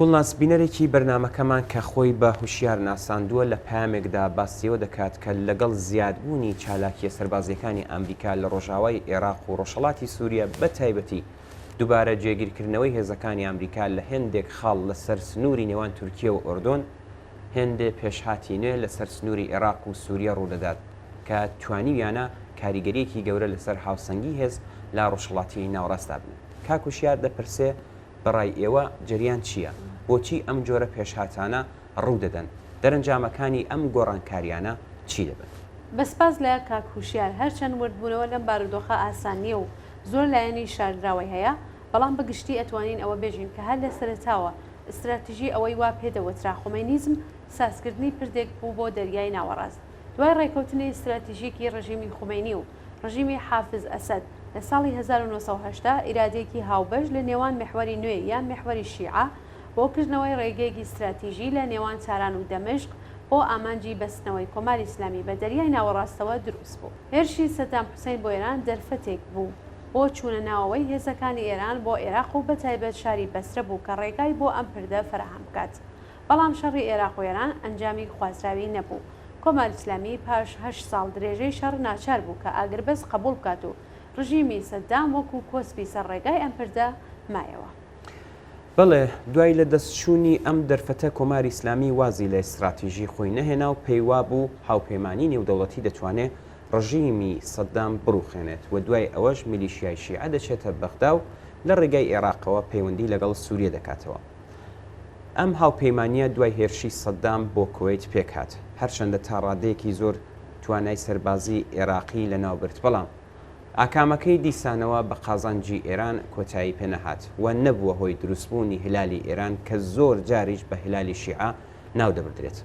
گوڵناز بینەرێکی بەرنامەکەمان کە خۆی بە هوشیار ناساندووە لە پەیامێکدا باسی ئەوە دەکات کە لەگەڵ زیادبوونی چالاکییە سەربازییەکانی ئامریکا لە ڕۆژاوای ئێراق و ڕۆژهەڵاتی سووریە بە تایبەتی دووبارە جێگیرکردنەوەی هێزەکانی ئامریکا لە هێندێک خاڵ لە سەر سنووری نێوان تورکیە و ئۆردۆن هێندێ پێشهاتی نوێ لە سەر سنووری ئێراق و سووریە ڕوو دەدات کە توانیویانە کاریگەرییەکی گەورە لە سەر هاوسەنگی هێز لە ڕۆژهەڵاتی ناوەڕاستدا بنێن. کاک هوشیار دەپرسێ بە ڕای ئێوە جەریان چییە؟ بۆچی ئەم جۆرە پێشهاتانە ڕوو دەدەن؟ دەرەنجامەکانی ئەم گۆڕانکارییانە چی دەبن؟ بە سپاس لە کاک هوشیار. هەرچەند وردبوونەوە لەم بارودۆخە ئاسان نییە و زۆر لایەنی شاردراوەی هەیە، بەڵام بە گشتی ئەتوانین ئەوە بێژین کە هەر لە سەرەتاوە ئیستراتیژی ئەوەی وا پێ دەوترا خومەینیزم سازکردنی پردێک بوو بۆ دەریای ناوەڕاست، دوای ڕێکەوتنی ستراتیژیکی ڕژیمی خومەینی و ڕژیمی حافز ئەسەد لە ساڵی هەزار و نۆ سەد و هەشتا ئیرادەیەکی هاوبەش لە نێوان میحوەری نوێ یان میحوەری شیعە بۆ کردنەوەی ڕێگەیەکی ستراتیژی لە نێوان تاران و دەمشق بۆ ئامانجی بەستنەوەی کۆماری ئیسلامی بە دەریای ناوەڕاستەوە دروست بوو. هێرشی سەدام حوسەین بۆ ئێران دەرفەتێک بوو بۆ چوونە ناوەوەی هێزەکانی ئێران بۆ ئێراق و بەتایبەت شاری بەسرە بوو کە ڕێگای بۆ ئەم پردە فەراهەم بکات بەڵام شەڕی ئێراق و ئێران ئەنجامی خوازراوی نەبوو. کۆماری ئیسلامی پاش هەشت ساڵ درێژەی شەڕ ناچار بوو کە ئاگربەست قەبووڵ بکات و ڕژیمی سەدام وەکوو کۆسپی سەر ڕێگای ئەم پردە مایەوە. بەڵێ، دوای لە دەست چوونی ئەم دەرفەتە کۆماری ئیسلامی وازی لە ئیستراتیژی خۆی نەهێنا و پێی وا بوو هاوپەیمانیی نێودەوڵەتی دەتوانێ ڕژیمی سەدام بڕووخێنێت و دوای ئەوەش میلیشیای شیعە دەچێتە بەغدا و لە ڕێگای ئێراقەوە پەیوەندی لەگەڵ سووریە دەکاتەوە. ئەم هاوپەیمانییە دوای هێرشی سەدام بۆ کوەیت پێکهات، هەرچەندە تا ڕادەیەکی زۆر توانای سەربازیی ئێراقی لەناوبرد، بەڵام ئاکامەکەی دیسانەوە بە قازانجی ئێران کۆتایی پێنەهات و نەبووە هۆی دروستبوونی هیلالی ئێران کە زۆر جاریش بە هیلالی شیعە ناو دەبردرێت.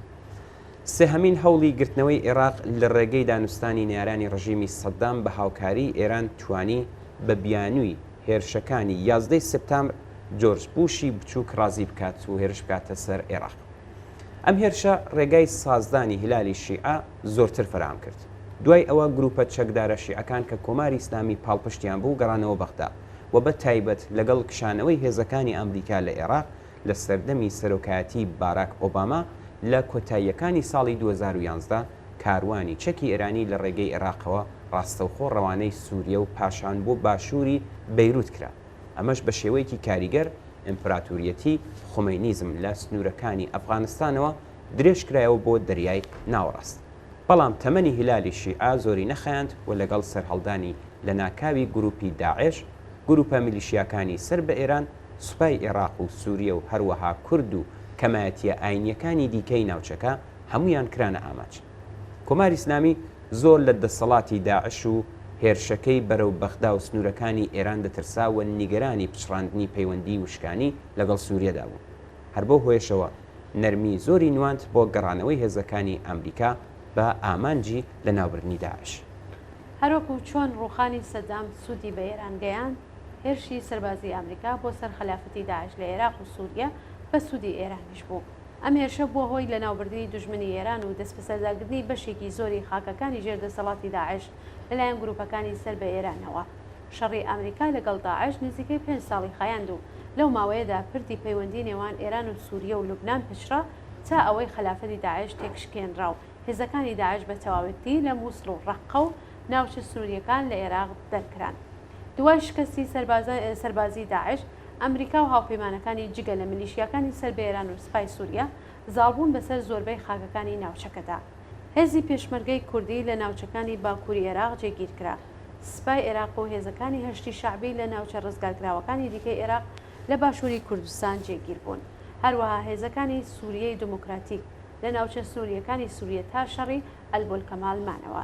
سێهەمین هەوڵی گرتنەوەی ئێراق لە ڕێگەی دانوستانی نەیارانی ڕژیمی سەدام بە هاوکاریی ئێران توانی بە بیانووی هێرشەکانی یازدە ی سپتامبر جۆرج بوشی بچووک ڕازی بکات و هێرش بکاتە سەر عێراق. ئەم هێرشە ڕێگای سازدانی هیلالی شیعە زۆرتر فەرام کرد. دوای ئەوە گرووپە چەکدارە شیعەکان کە کۆماری ئیسلامی پاڵپشتیان بوو گەڕانەوە بەغدا و بە تایبەت لەگەڵ کشانەوەی هێزەکانی ئامریکا لە عێراق لە سەردەمی سەرۆکایەتیی باراک ئۆباما لە کۆتاییەکانی ساڵی دوو هەزار و یازدە کاروانی چەکی ئێرانی لە ڕێگەی ئێراقەوە ڕاستەوخۆ ڕەوانەی سووریە و پاشان بۆ باشووری بەیرووت کرا. ئەمەش بە شێوەیەکی کاریگەر ئیمپراتووریەتی خومەینیزم لە سنوورەکانی ئەفغانستانەوە درێژ کرایەوە بۆ دەریای ناوەڕاست. بەڵام تەمەنی هیلالی شیعە زۆری نەخایاند و لەگەڵ سەرهەڵدانی لەناکاوی گرووپی داعش، گرووپە میلیشیاکانی سەر بە ئێران، سوپای ئێراق و سووریە و هەروەها کورد و کەمایەتییە ئایینییەکانی دیکەی ناوچەکە، هەموویان کرانە ئامانج. کۆماری ئیسلامی زۆر لە دەسەڵاتی داعش و هێرشەکەی بەرەو بەغدا و سنوورەکانی ئێران دەترسا و نیگەرانی پچڕاندنی پەیوەندیی وشکانی لەگەڵ سووریەدا بوو. هەر بەو هۆیەشەوە نەرمیی زۆری نواند بۆ گەڕانەوەی هێزەکانی ئامریکا بە ئامانجی لەناوبردنی داعش. هەروەکو چۆن ڕووخانی سەدام سوودی بە ئێران گەیاند، هێرشی سەربازیی ئامریکا بۆ سەر خەلافەتی داعش لە ئێراق و سووریە بە سوودی ئێرانیش بوو. ئەم هێرشە بووە هۆی لەناوبردنی دوژمنی ئێران و دەستبەسەرداگرتنی بەشێکی زۆری خاکەکانی ژێر دەسەڵاتی داعش لەلایەن گرووپەکانی سەر بە ئێرانەوە. شەڕی ئامریکا لەگەڵ داعش نزیکەی پێنج ساڵی خایاند و لەو ماوەیەدا پردی پەیوەندی نێوان ئێران و سووریە و لوبنان پچڕا تا ئەوەی خەلافەتی داعش تێکشکێنرا و هێزەکانی داعش بە تەواوەتی لە مووسڵ و ڕەققە و ناوچە سنوورییەکان لە ئێراق دەرکران. دوای شکستی سەربازی داعش، ئەمریکا و هاوپەیمانەکانی جگە لە میلیشیاکانی سەر بە ئێران و سپای سووریە، زاڵبوون بەسەر زۆربەی خاکەکانی ناوچەکەدا. هێزی پێشمەرگەی کوردی لە ناوچەکانی باکووری ئێراق جێگیر کرا. سپای ئێراق و هێزەکانی هەشدی شەعبی لە ناوچە ڕزگارکراوەکانی دیکەی ئێراق لە باشووری کوردستان جێگیر بوون. هەروەها هێزەکانی سووریەی دموکراتیک لە ناوچە سنوورییەکانی سووریە تا شەڕی ئەلبولکەمال مانەوە.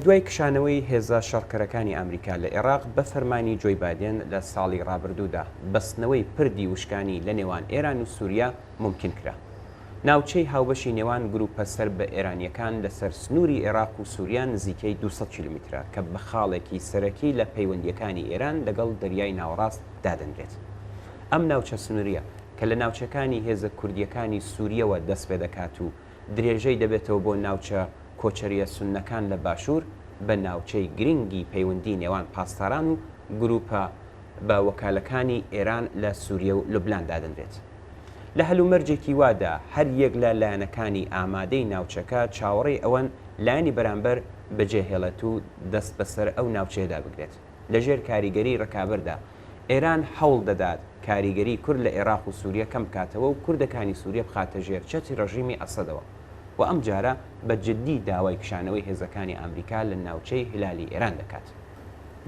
دوای کشانەوەی هێزە شەڕکەرەکانی ئامریکا لە ئێراق بە فەرمانی جۆی بادێن لە ساڵی ڕابردوودا، بەستنەوەی پردی وشکانی لە نێوان ئێران و سووریا مومکین کرا. ناوچەی هاوبەشی نێوان گرووپە سەر بە ئێرانییەکان لەسەر سنووری ئێراق و سووریا نزیکەی دوو سەد کیلۆمیترە کە بە خاڵێکی سەرەکی لە پەیوەندییەکانی ئێران لەگەڵ دەریای ناوەڕاست دادەنرێت. ئەم ناوچە سنوورییە کە لە ناوچەکانی هێزە کوردییەکانی سوورییەوە دەست پێ دەکات و، درێژەی دەبێتەوە بۆ ناوچە کۆچەرییە سوننەکان لە باشوور بە ناوچەی گرنگی پەیوەندی نێوان پاسداران و گرووپە بە وەکالەکانی ئێران لە سووریە و لوبنان دادەنرێت. لە هەلومەرجێکی وادا هەر یەک لە لایەنەکانی ئامادەی ناوچەکە چاوەڕێی ئەوەن لایەنی بەرامبەر بەجێهێڵێت و دەست بەسەر ئەو ناوچەیەدا بگرێت لەژێر کاریگەری ڕکابەردا ئێران هەوڵ دەدات کاریگەری کورد لە ئێراق و سووریە کەم بکاتەوە و کوردەکانی سووریە بخاتە ژێر چەتری ڕژیمی ئەسەدەوە و ئەم جارە بە جددی داوای کشانەوەی هێزەکانی ئامریکا لە ناوچەی هلالی ئێران دەکات.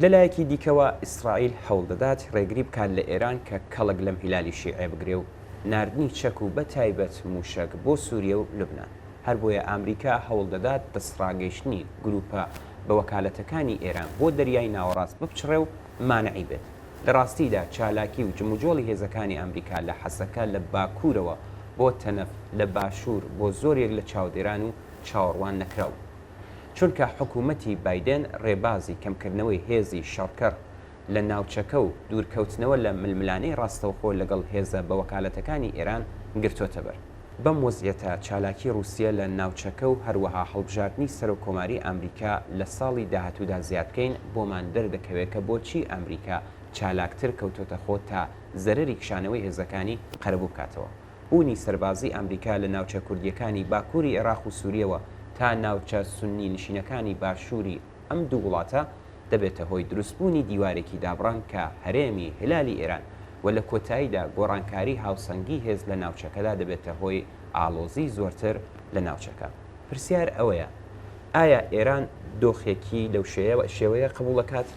لە لایەکی دیکەوە ئیسرائیل هەوڵ دەدات ڕێگری بکات لە ئێران کە کەڵک لەم هلالی شیعە بگرێ و ناردنی چەک و بە تایبەت مووشەک بۆ سووریە و لوبنان. هەر بۆیە ئامریکا هەوڵ دەدات دەستڕاگەیشتنی گرووپە بە وەکالەتەکانی ئێران بۆ دەریای ناوەڕاست بپچڕێ و مانعی بێت. لە ڕاستیدا چالاکی و جموجۆڵی هێزەکانی ئامریکا لە حەسەکە لە باکوورەوە بۆ تەنەف لە باشوور بۆ زۆر یەک لە چاودێران و چاوەڕوان نەکراو بوو. چونکە حکوومەتی بایدێن ڕێبازی کەمکردنەوەی هێزی شەڕکەڕ لە ناوچەکە و دوورکەوتنەوە لە ململانێی ڕاستەوخۆ لەگەڵ هێزە بەوەکالەتەکانی ئێران گرتۆتە بەر. بەم وەزعیەتە چالاکی ڕوسیە لە ناوچەکە و هەروەها هەڵبژاردنی سەرۆک کۆماری ئامریکا لە ساڵی داهاتوودا زیاد بکەین بۆمان دەردەکەوێ کە بۆچی ئامریکا چالاکتر کەوتۆتە خۆ تا زەرەری کشانەوەی هێزەکانی قەرەبوو بکاتەوە بوونی سەربازی ئامریکا لە ناوچە کوردیەکانی باکوری عێراق و سوریەوە تا ناوچە سونی نشینەکانی باشوری ئەم دوو وڵاتە دەبێتە هۆی دروستبوونی دیوارێکی دابڕان کە هەرێمی هلالی ئێران و لە کۆتاییدا گۆڕانکاری هاوسەنگی هێز لە ناوچەکەدا دەبێتە هۆی ئاڵۆزی زۆرتر لە ناوچەکە. پرسیار ئەوەیە ئایا ئێران دۆخێکی لەو شێوەیە قبوڵ دەکات؟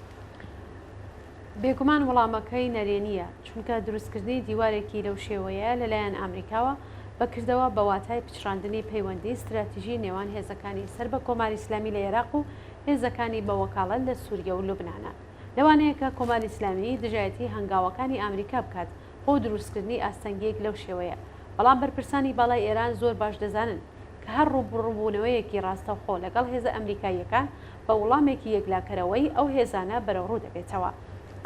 بێگومان وڵامەکەی نەرێنییە، چونکە دروستکردنی دیوارێکی لەو شێوەیە لەلایەن ئامریکاوە بە کردەوە بە واتای پچڕاندنی پەیوەندیی ستراتیژی نێوان هێزەکانی سەر بە کۆماری ئیسلامی لە ئێراق و هێزەکانی بە وەکاڵەت لە سووریە و لوبنانە. لەوانەیە کە کۆماری ئیسلامی دژایەتیی هەنگاوەکانی ئامریکا بکات بۆ دروستکردنی ئاستەنگییەک لەو شێوەیە، بەڵام بەرپرسانی باڵای ئێران زۆر باش دەزانن کە هەر ڕووبڕووبوونەوەیەکی ڕاستەوخۆ لەگەڵ هێزە ئەمریکاییەکان بە وڵامێکی یەکلاکەرەوەی ئەو هێزانە بەرەوڕوو دەبێتەوە.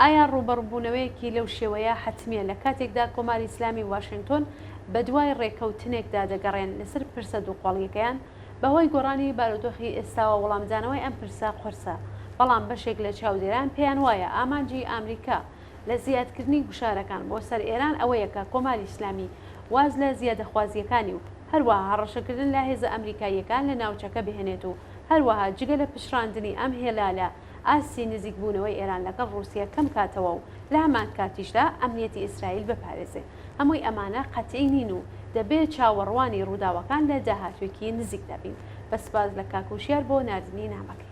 ئایا ڕووبەڕووبوونەوەیەکی لەو شێوەیە حەتمییە لە کاتێکدا کۆماری ئیسلامی و واشێنگتۆن بە دوای ڕێککەوتنێکدا دەگەڕێن لەسەر پرسە دووقۆڵییەکەیان؟ بە هۆی گۆڕانی بارودۆخی ئێستاوە وڵامدانەوەی ئەم پرسە قورسە، بەڵام بەشێک لە چاودێران پێیان وایە ئامانجی ئامریکا لە زیادکردنی گوشارەکان بۆ سەر ئێران ئەوەیە کە کۆماری ئیسلامی واز لە زیادەخوازییەکانی و هەروەها هەڕەشەکردن لە هێزە ئامریکاییەکان لە ناوچەکە بهێنێت و هەروەها جگە لە پچڕاندنی ئەم هێلالە ئاستی نزیک بوونەوەی ئێران لەگەڵ ڕووسیە کەم کاتەوە و لە هەمان کاتیشدا ئەمنیەتی ئیسرائیل بپارێزێ هەمووی ئەمانە قەتعی نین و دەبێ چاوەڕوانی ڕووداوەکان لە داهاتووێکی نزیکدا بین بەسپاس لە کاک وشیار بۆ ناردنی نامەکەی.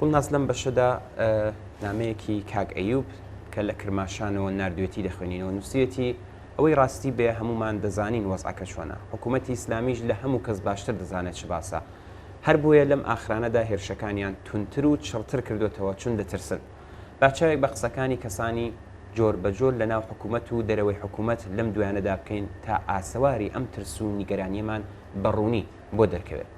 گوڵناز لەم بەشەدا نامەیەکی کاک ئەیوب کە لە کرماشانەوە نردوێتی دەخوێنینەوە نووسێتی ئەوەی ڕاستی بێ هەمومان دەزانین وەزعەکە چۆنە حکوومەتی ئیسلامیش لە هەموو کەس باشتر دەزانێت چ باسە هەر بۆیە لەم ئاخرانەدا هێرشەکانیان تونتر و چڕتر کردوتەوە چون دەترسن باچاوێک بە قسەکانی کەسانی جۆر بە جۆر لە ناو حکوومەت و دەرەوەی حکوومەت لەم دویانەدا بکەین تا ئاسەواری ئەم ترس و نیگەرانیەمان بە ڕوونی بۆ دەرکەوێت.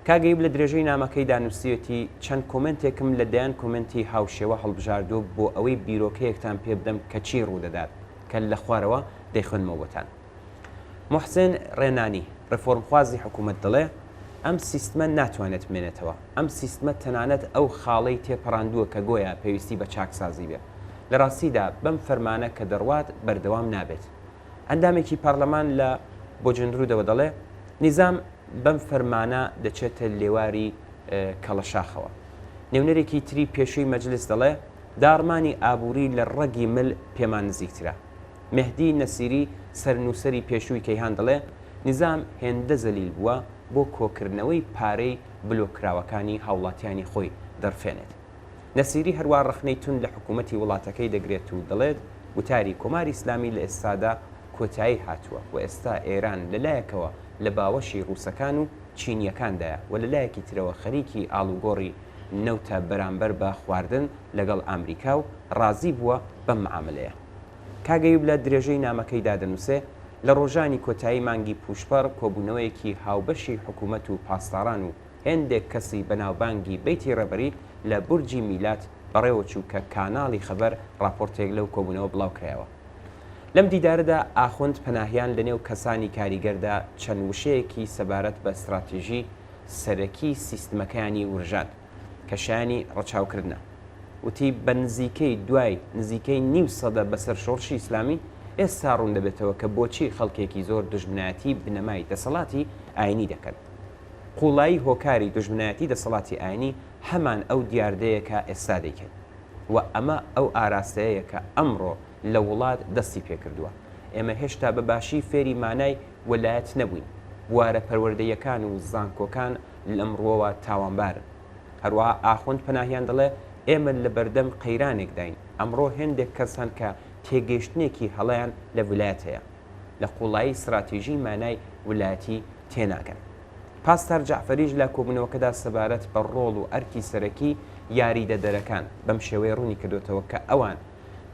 کاک ئەیوب لە درێژەی نامەکەیدا نووسیوێتی، چەند کۆمێنتێکم لە دەیان کۆمێنتی هاوشێوە هەڵبژاردووە بۆ ئەوەی بیرۆکەیەکتان پێ بدەم کە چی ڕوودەدات کە لە خوارەوە دەیخوێنمەوە بۆتان. موحسێن ڕێنانی، ڕێفۆرمخوازی حکوومەت دەڵێ، ئەم سیستمە ناتوانێت بمێنێتەوە. ئەم سیستمە تەنانەت ئەو خاڵەی تێپەڕاندووە کە گۆیا پێویستی بە چاکسازی بێت. لە ڕاستیدا بەم فەرمانە کە دەڕوات بەردەوام نابێت. ئەندامێکی پارلەمان لە بۆجندرودەوە دەڵێ نیزام بەم فەرمانە دەچێتە لێواری کەڵەشاخەوە. نێونەرێکی تری پێشووی مەجلس دەڵێ داڕمانی ئابووری لە ڕەگی مل پێمان نزیکترە. مێهدی نەسیری سەرنووسەری پێشووی کەیهان دەڵێ نیزام هێندە زەلیل بووە بۆ کۆکردنەوەی پارەی بلۆککراوەکانی هاوڵاتیانی خۆی دەڕفێنێت. نەسیری هەروا ڕەخنەی توند لە حکوومەتی وڵاتەکەی دەگرێت و دەڵێت، گوتاری کۆماری ئیسلامی لە ئێستادا کۆتایی هاتووە و ئێستا ئێران لە لایەکەوە لە باوەشی ڕووسەکان و چینییەکاندایە و لە لایەکی ترەوە خەریکی ئاڵوگۆڕی نەوتە بەرامبەر بە خواردن لەگەڵ ئامریکا و ڕازی بووە بەم معامەلەیە. کاک ئەیوب لە درێژەی نامەکەیدا دەنووسێ، لە ڕۆژانی کۆتایی مانگی پووشپەڕ کۆبوونەوەیەکی هاوبەشی حکوومەت و پاسداران و هێندێک کەسی بەناوبانگی بەیتی ڕێبەری لە بورجی میلاد بەڕێوەچوو کە کاناڵی خەبەر ڕاپۆرتێک لەو کۆبوونەوە بڵاوکرایەوە. لەم دیدارەدا ئاخوند پەناهیان لەنێو کەسانی کاریگەردا چەند وشەیەکی سەبارەت بە ستراتیژی سەرەکی سیستمەکەیانی ورژاند کە شایانی ڕەچاوکردنە. وتی بە نزیکەی دوای نزیکەی نیو سەدە بەسەر شۆڕشی ئیسلامی، ئێستا ڕووندەبێتەوە کە بۆچی خەڵکێکی زۆر دوژمنایەتی بنەمای دەسەڵاتی ئاینی دەکەن. قووڵایی هۆکاری دوژمنایەتی دەسەڵاتی ئاینی هەمان ئەو دیاردەیە کە ئێستا دەیکەین و ئەمە ئەو ئاراستەیەیە کە ئەمڕۆ لە وڵات دەستی پێکردووە. ئێمە هێشتا بە باشی فێری مانای وەلایەت نەبووین. بوارە پەروەردەییەکان و زانکۆکان لەم ڕووەوە تاوانبارن. هەروەها ئاخوند پەناهیان دەڵێ، ئێمە لە بەردەم قەیرانێکداین. ئەمڕۆ هێندێک کەس هەن کە تێگەیشتنێکی هەڵەیان لە ولایەت هەیە. لە قوڵایی ستراتیژی مانای ولایەتی تێناگەن. پاستار جەعفەریش لە کۆبوونەوەکەدا سەبارەت بە ڕۆڵ و ئەرکی سەرەکی یاریدەدەرەکان بەم شێوەیە ڕوونی کردووەتەوە کە ئەوان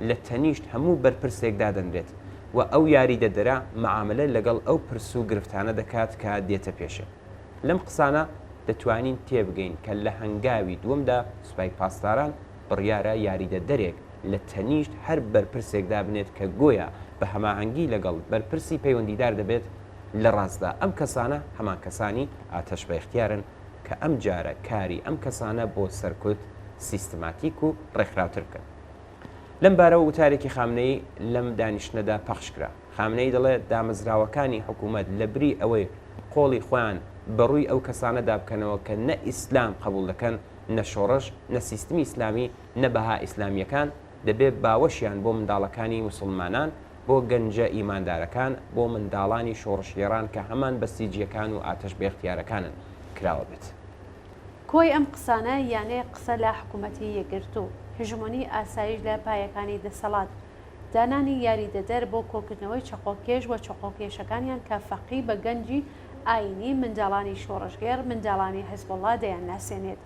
لە تەنیشت هەموو بەرپرسێک دادەنرێت و ئەو یاریدەدەرە مەعامەلە لەگەڵ ئەو پرس و گرفتانە دەکات کە دێتە پێشێ. لەم قسانە دەتوانین تێبگەین کە لە هەنگاوی دووەمدا سوپای پاسداران بڕیارە یاریدەدەرێک لە تەنیشت هەر بەرپرسێکدا بنێت کە گۆیا بە هەماهەنگی لەگەڵ بەرپرسی پەیوەندیدار دەبێت، لە ڕاستدا ئەم کەسانە هەمان کەسانی ئاتەش بەیختیارن کە ئەم جارە کاری ئەم کەسانە بۆ سەرکوت سیستماتیک و ڕێکخراوتر بکەن. لەم بارەوە وتارێکی خامنەیی لەم دانیشتنەدا پەخش کرا. خامنەیی دەڵێ دامەزراوەکانی حکوومەت لە بری ئەوەی قۆڵی خۆیان بە ڕووی ئەو کەسانەدا بکەنەوە کە نە ئیسلام قەبووڵ دەکەن، نە شۆڕش، نە سیستمی ئیسلامی، نە بەها ئیسلامیەکان، دەبێ باوەشیان بۆ منداڵەکانی موسڵمانان، بۆ گەنجە ئیماندارەکان، بۆ منداڵانی شۆڕشگێڕان کە هەمان بەسیجیەکان و ئاتەش بێختیارەکانن، کراوە بێت. کۆی ئەم قسانە یانێ قسە لە حکوومەتی یەکگرتوو، هژمۆنی ئاسایش لە پایەکانی دەسەڵات، دانانی یاریدەدەر بۆ کۆکردنەوەی چەقۆکێش و چەقۆکێشەکانیان کە فەقی بە گەنجی ئایینی، منداڵانی شۆڕشگێڕ، منداڵانی حزبوڵڵا دەیانناسێنێت.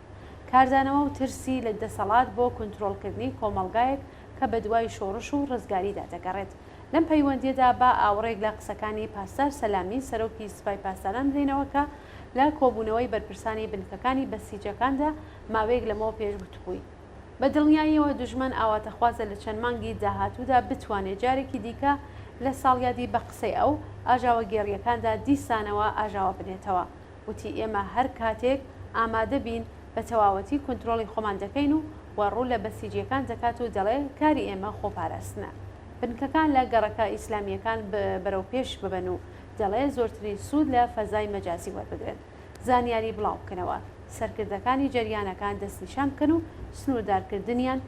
کاردانەوە و ترسی لە دەسەڵات بۆ کونترۆڵکردنی کۆمەڵگایەک کە بەدوای شۆڕش و ڕزگاریدا دەگەڕێت. لەم پەیوەندییەدا با ئاوڕێک لە قسەکانی پاسدار سەلامی سەرۆکی سپای پاسداران بدەینەوە کە لە کۆبوونەوەی بەرپرسانی بنکەکانی بەسیجەکاندا ماوەیەک لەمەوە پێش گوتبووی، بە دڵنیاییەوە دوژمن ئاواتەخوازە لە چەند مانگی داهاتوودا بتوانێت جارێکی دیکە لە ساڵیادی بە قسەی ئەو، ئاژاوەگێڕییەکاندا دیسانەوە ئاژاوە بنێتەوە. وتی ئێمە هەر کاتێک ئامادە بین بە تەواوەتی کونترۆڵی خۆمان دەکەین و و ڕوو لە بەسیجییەکان دەکات و دەڵێ کاری ئێمە خۆپاراستنە. بنکەکان لە گەڕەکە ئیسلامییەکان ب بەرەو پێش ببەن و دەڵێ زۆرترین سوود لە فەزای مەجازی وەربگرن زانیاری بڵاو بکەنەوە سەرکردەکانی جەریانەکان دەستنیشان بکەن و سنووردارکردنیان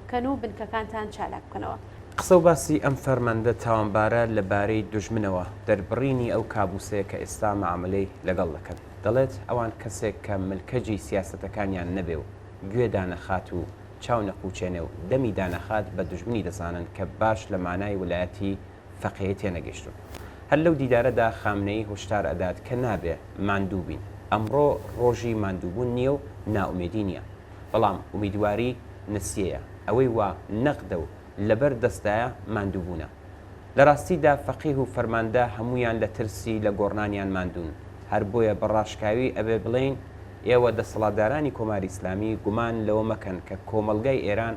بکەن و بنکەکانتان چالاک بکەنەوە. قسە و باسی ئەم فەرماندە تاوانبارە لە بارەی دوژمنەوە، دەربڕینی ئەو کابووسەیە کە ئێستا مەعامەلەی لەگەڵ دەکەن. دەڵێت ئەوان کەسێک کە ملکەجی سیاسەتەکانیان نەبێ و گوێ دانەخات و چاو نەقوچێنێ و دەمی دانەخات بە دوژمنی دەزانن کە باش لە مانای ولایەتی فەقێی تێنەگەیشتوون. هەر لەو دیدارەدا خامنەیی هۆشدار ئەدات کە نابێ ماندوو بین. ئەمڕۆ ڕۆژی ماندووبوون نییە و نائومێدی نییە. بەڵام ئومیدواری نەسیەیە. ئەوەی وا نەقدە و لەبەر دەستدایە ماندووبوونە. لە ڕاستیدا فەقیه و فەرماندە هەموویان لە ترسی لە گۆڕنانیان ماندوون. هەر بۆیە بە ڕاشکاوی ئەبێ بڵێین ئێوە دەسەڵاتدارانی کۆماری ئیسلامی گومان لەوە مەکەن کە کۆمەڵگای ئێران،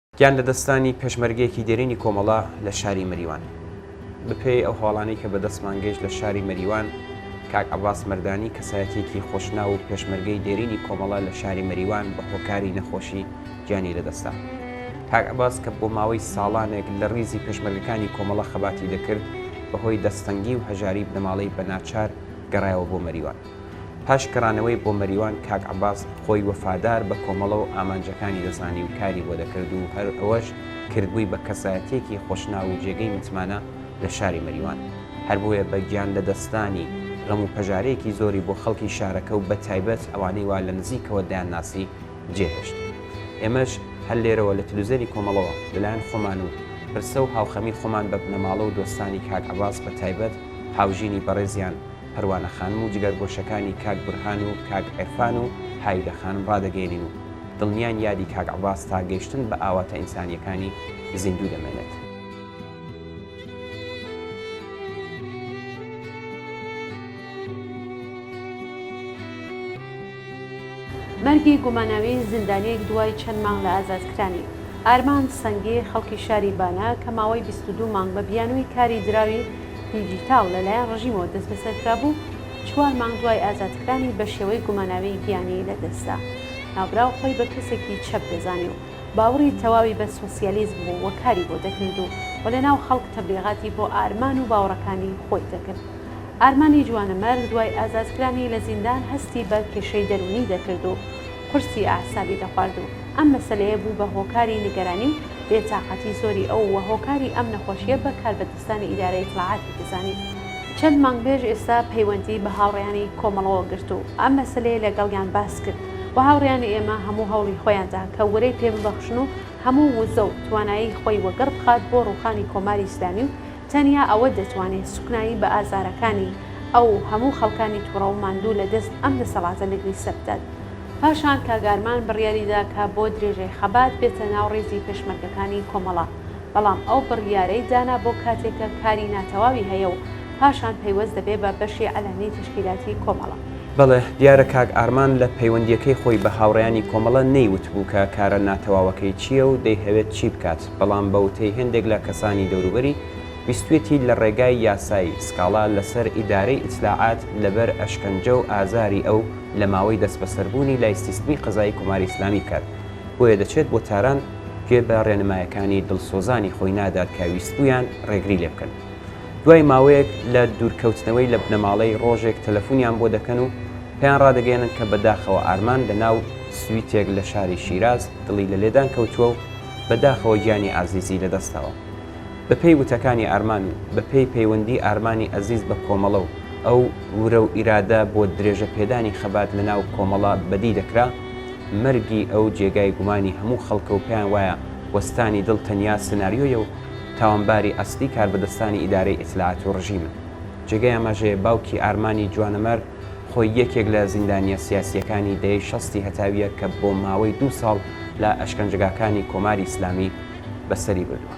گیان لەدەستدانی پێشمەرگەیەکی دێرینی کۆمەڵە لە شاری مەریوان. بەپێی ئەو هەواڵانەی کە بە دەستمان گەیشت لە شاری مەریوان، کاک عەباس مەردانی کەسایەتییەکی خۆشناو و پێشمەرگەی دێرینی کۆمەڵە لە شاری مەریوان بە هۆکاری نەخۆشی گیانی لەدەستدا. کاک عەباس کە بۆ ماوەی ساڵانێک لە ڕیزی پێشمەرگەکانی کۆمەڵە خەباتی دەکرد، بەهۆی دەستتەنگی و هەژاری بنەماڵەی بە ناچار گەڕایەوە بۆ مەریوان. پاش گەڕانەوەی بۆ مەریوان کاک عەباس خۆی وەفادار بە کۆمەڵە و ئامانجەکانی دەزانی و کاری بۆ دەکرد و هەر ئەوەش کردبووی بە کەسایەتییەکی خۆشناو و جێگەی متمانە لە شاری مەریوان. هەر بۆیە بە گیان لە دەستدانی غەم و پەژارەیەکی زۆری بۆ خەڵکی شارەکە و بە تایبەت ئەوانەی وا لە نزیکەوە دەیانناسی جێهێشت. ئێمەش هەر لێرەوە لە تلوزێنی کۆمەڵەوە لە لایەن خۆمان و پرسە و هاوخەمی خۆمان بە بنەماڵە و دۆستانی کاک عەباس بە تایبەت هاوژینی بەڕێزیان، پەروانە خانم و جگەرگۆشەکانی کاک بورهان و کاک عیرفان و هایدە خانم ڕادەگەیەنین و دڵنیاین یادی کاک عەباس تا گەیشتن بە ئاواتە ئینسانییەکانی زیندوو دەمێنێت. مەرگی گوماناوی زیندانییەک دوای چەند مانگ لە ئازادکرانی، ئارمان سەنگی، خەڵکی شاری بانە کە ماوەی بیست و دوو مانگ بە بیانووی کاری دراوی دیجیتاڵ لەلایەن ڕژیمەوە دەستبەسەر کرابوو، چوار مانگ دوای ئازادکرانی بە شێوەی گوماناوی گیانی لەدەستدا. ناوبراو خۆی بە کەسێکی چەپ دەزانی و باوەڕی تەواوی بە سۆسیالیزم بوو و کاری بۆ دەکرد و و لەناو خەڵک تەبلیغاتی بۆ ئارمان و باوەڕەکانی خۆی دەکرد. ئارمانی جوانەمەرگ دوای ئازادکرانی لە زیندان هەستی بە کێشەی دەروونی دەکرد و قورسی ئەعسابی دەخوارد و ئەم مەسەلەیە بوو بە هۆکاری نیگەرانی و بێ تاقەتی زۆری ئەو و هۆکاری ئەم نەخۆشییە بە کاربەدەستانی ئیدارە ئیتلاعاتی دەزانی. چەند مانگ پێش ئێستا پەیوەندی بە هاوڕێیانی کۆمەڵەوە گرت و ئەم مەسەلەیە لە گەڵیان باس کرد و هاوڕێیانی ئێمە هەموو هەوڵی خۆیان دا کە ورەی پێ ببەخشن و هەموو وزە و توانایی خۆی وەگەڕ بخات بۆ ڕووخانی کۆماری ئیسلامی و تەنیا ئەوە دەتوانێ سوکنایی بە ئازارەکانی ئەو هەموو خەڵکانی توڕەو ماندوو لە دەست ئەم دەسەڵاتە لەگریسە بدات. پاشان کاک ئارمان بڕیاری دا کە بۆ درێژەی خەبات بێتە ناو ڕیزی پێشمەرگەکانی کۆمەڵە، بەڵام ئەو بڕیارەی دانا بۆ کاتێک کە کاری ناتەواوی هەیە و پاشان پەیوەست دەبێ بە بەشی عەلەمی تەشکیلاتی کۆمەڵە. بەڵێ، دیارە کاک ئارمان لە پەیوەندییەکەی خۆی بە هاوڕێیانی کۆمەڵە نەیوتبوو کە کارە ناتەواوەکەی چییە و دەیهەوێت چی بکات. بەڵام بە وتەی هێندێک لە کەسانی دەوروبەری، ویستویەتی لە ڕێگای یاسایی سکاڵا لە سەر ئیدارەی ئیتلاعات لە بەر ئەشکەنجە و ئازاری ئەو لە ماوەی دەستبەسەر بوونی لای سیستمی قەزایی کۆماری ئیسلامی بکات بۆیە دەچێت بۆ تاران گوێ بە ڕێنمایەکانی دڵسۆزانی خۆی نادات کە ویستبوویان ڕێگری لێ بکەن دوای ماوەیەک لە دوورکەوتنەوەی لە بنەماڵەی ڕۆژێک تەلەفونیان بۆ دەکەن و پێیان ڕادەگەیەنن کە بەداخەوە ئارمان لە ناو سویتێک لە شاری شیراز دڵی لە لێدان کەوتووە و بە داخەوە گیانی ئازیزی لە دەستاوە. بە پێی وتەکانی ئارمان و بە پێی پەیوەندی ئارمانی ئەزیز بە کۆمەڵە و ئەو ورە و ئیرادە بۆ درێژە پێدانی خەبات لە ناو کۆمەڵە بەدی دەکرا، مەرگی ئەو جێگای گومانی هەموو خەڵکە و پێیان وایە وەستانی دڵ تەنیا سناریۆیە و تاوانباری ئەسلی کاربەدەستانی ئیدارەی ئیتلاعات و ڕژیمن. جێگەی ئاماژەیە باوکی ئارمانی جوانەمەرگ، خۆی یەکێک لە زیندانییە سیاسییەکانی دەیەی شەستی هەتاوییە کە بۆ ماوەی دوو ساڵ لە ئەشکەنجەگاکانی کۆماری ئیسلامی بەسەری بردووە.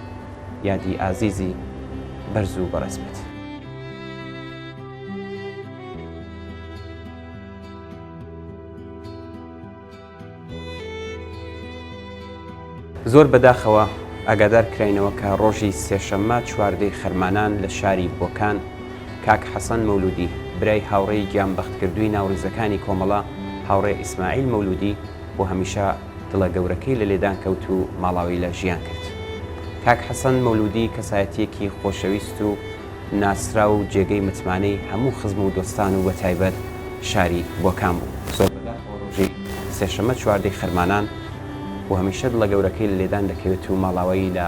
یادی ئازیزی بەرز و بەڕێز بێت. زۆر بەداخەوە ئاگادارکراینەوە کە ڕۆژی سێشەممە چواردەی خەرمانان لە شاری بۆکان کاک حەسەن مەولودی برای هاوڕێی گیان بەختکردووی ناوڕیزەکانی کۆمەڵە هاوڕێ ئیسماعیل مەولودی بۆ هەمیشە دڵە گەورەکەی لە لێدان کەوت و ماڵاوی لە ژیان کرد. کاک حەسەن مەولودی کەسایەتییەکی خۆشەویست و ناسراو و جێگەی متمانەی هەموو خزم و دۆستان و بەتایبەت شاری بۆکان بوو. بۆ ڕۆژی سێشەمە چواردەی خەرمانان و هەمیشە دڵە گەورەکەی لە لێدان دەکەوێت و ماڵاوایی لە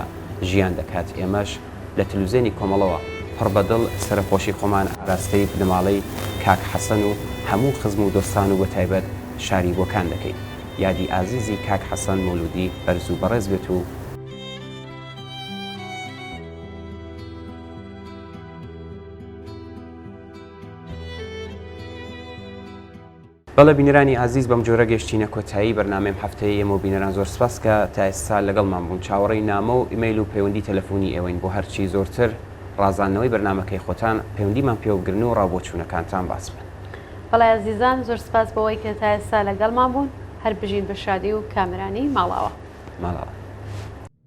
ژیان دەکات، ئێمەش لە تەلوزێنی کۆمەڵەوە پڕ بە دڵ سەرەخۆشی خۆمان ئاراستەی بنەماڵەی کاک حەسەن و هەموو خزم و دۆستان و بەتایبەت شاری بۆکان دەکەین یادی ئازیزی کاک حەسەن مولودی بەرز و بەڕێز بێت و بەڵێ بینەرانی ئازیز بەم جۆرە گەیشتینە کۆتایی بەرنامەیم هەفتەیی ئێمەو بینەران زۆر سپاس کە تا ئێستا لەگەڵمان بوون چاوەڕێی نامە و ئیمەیل و پەیوەندی تەلەفونی ئێوەین بۆ هەرچی زۆرتر ڕازاندنەوەی بەرنامەکەی خۆتان پەیوەندیمان پێوە بگرن و ڕا بۆچوونەکانتان باس بکەن. بەڵێ ئازیزان زۆر سپاس بەوەی کە تا ئێستا لەگەڵمان بوون هەر بژین بە شادی و کامەرانی ماڵاوا. ماڵاوا.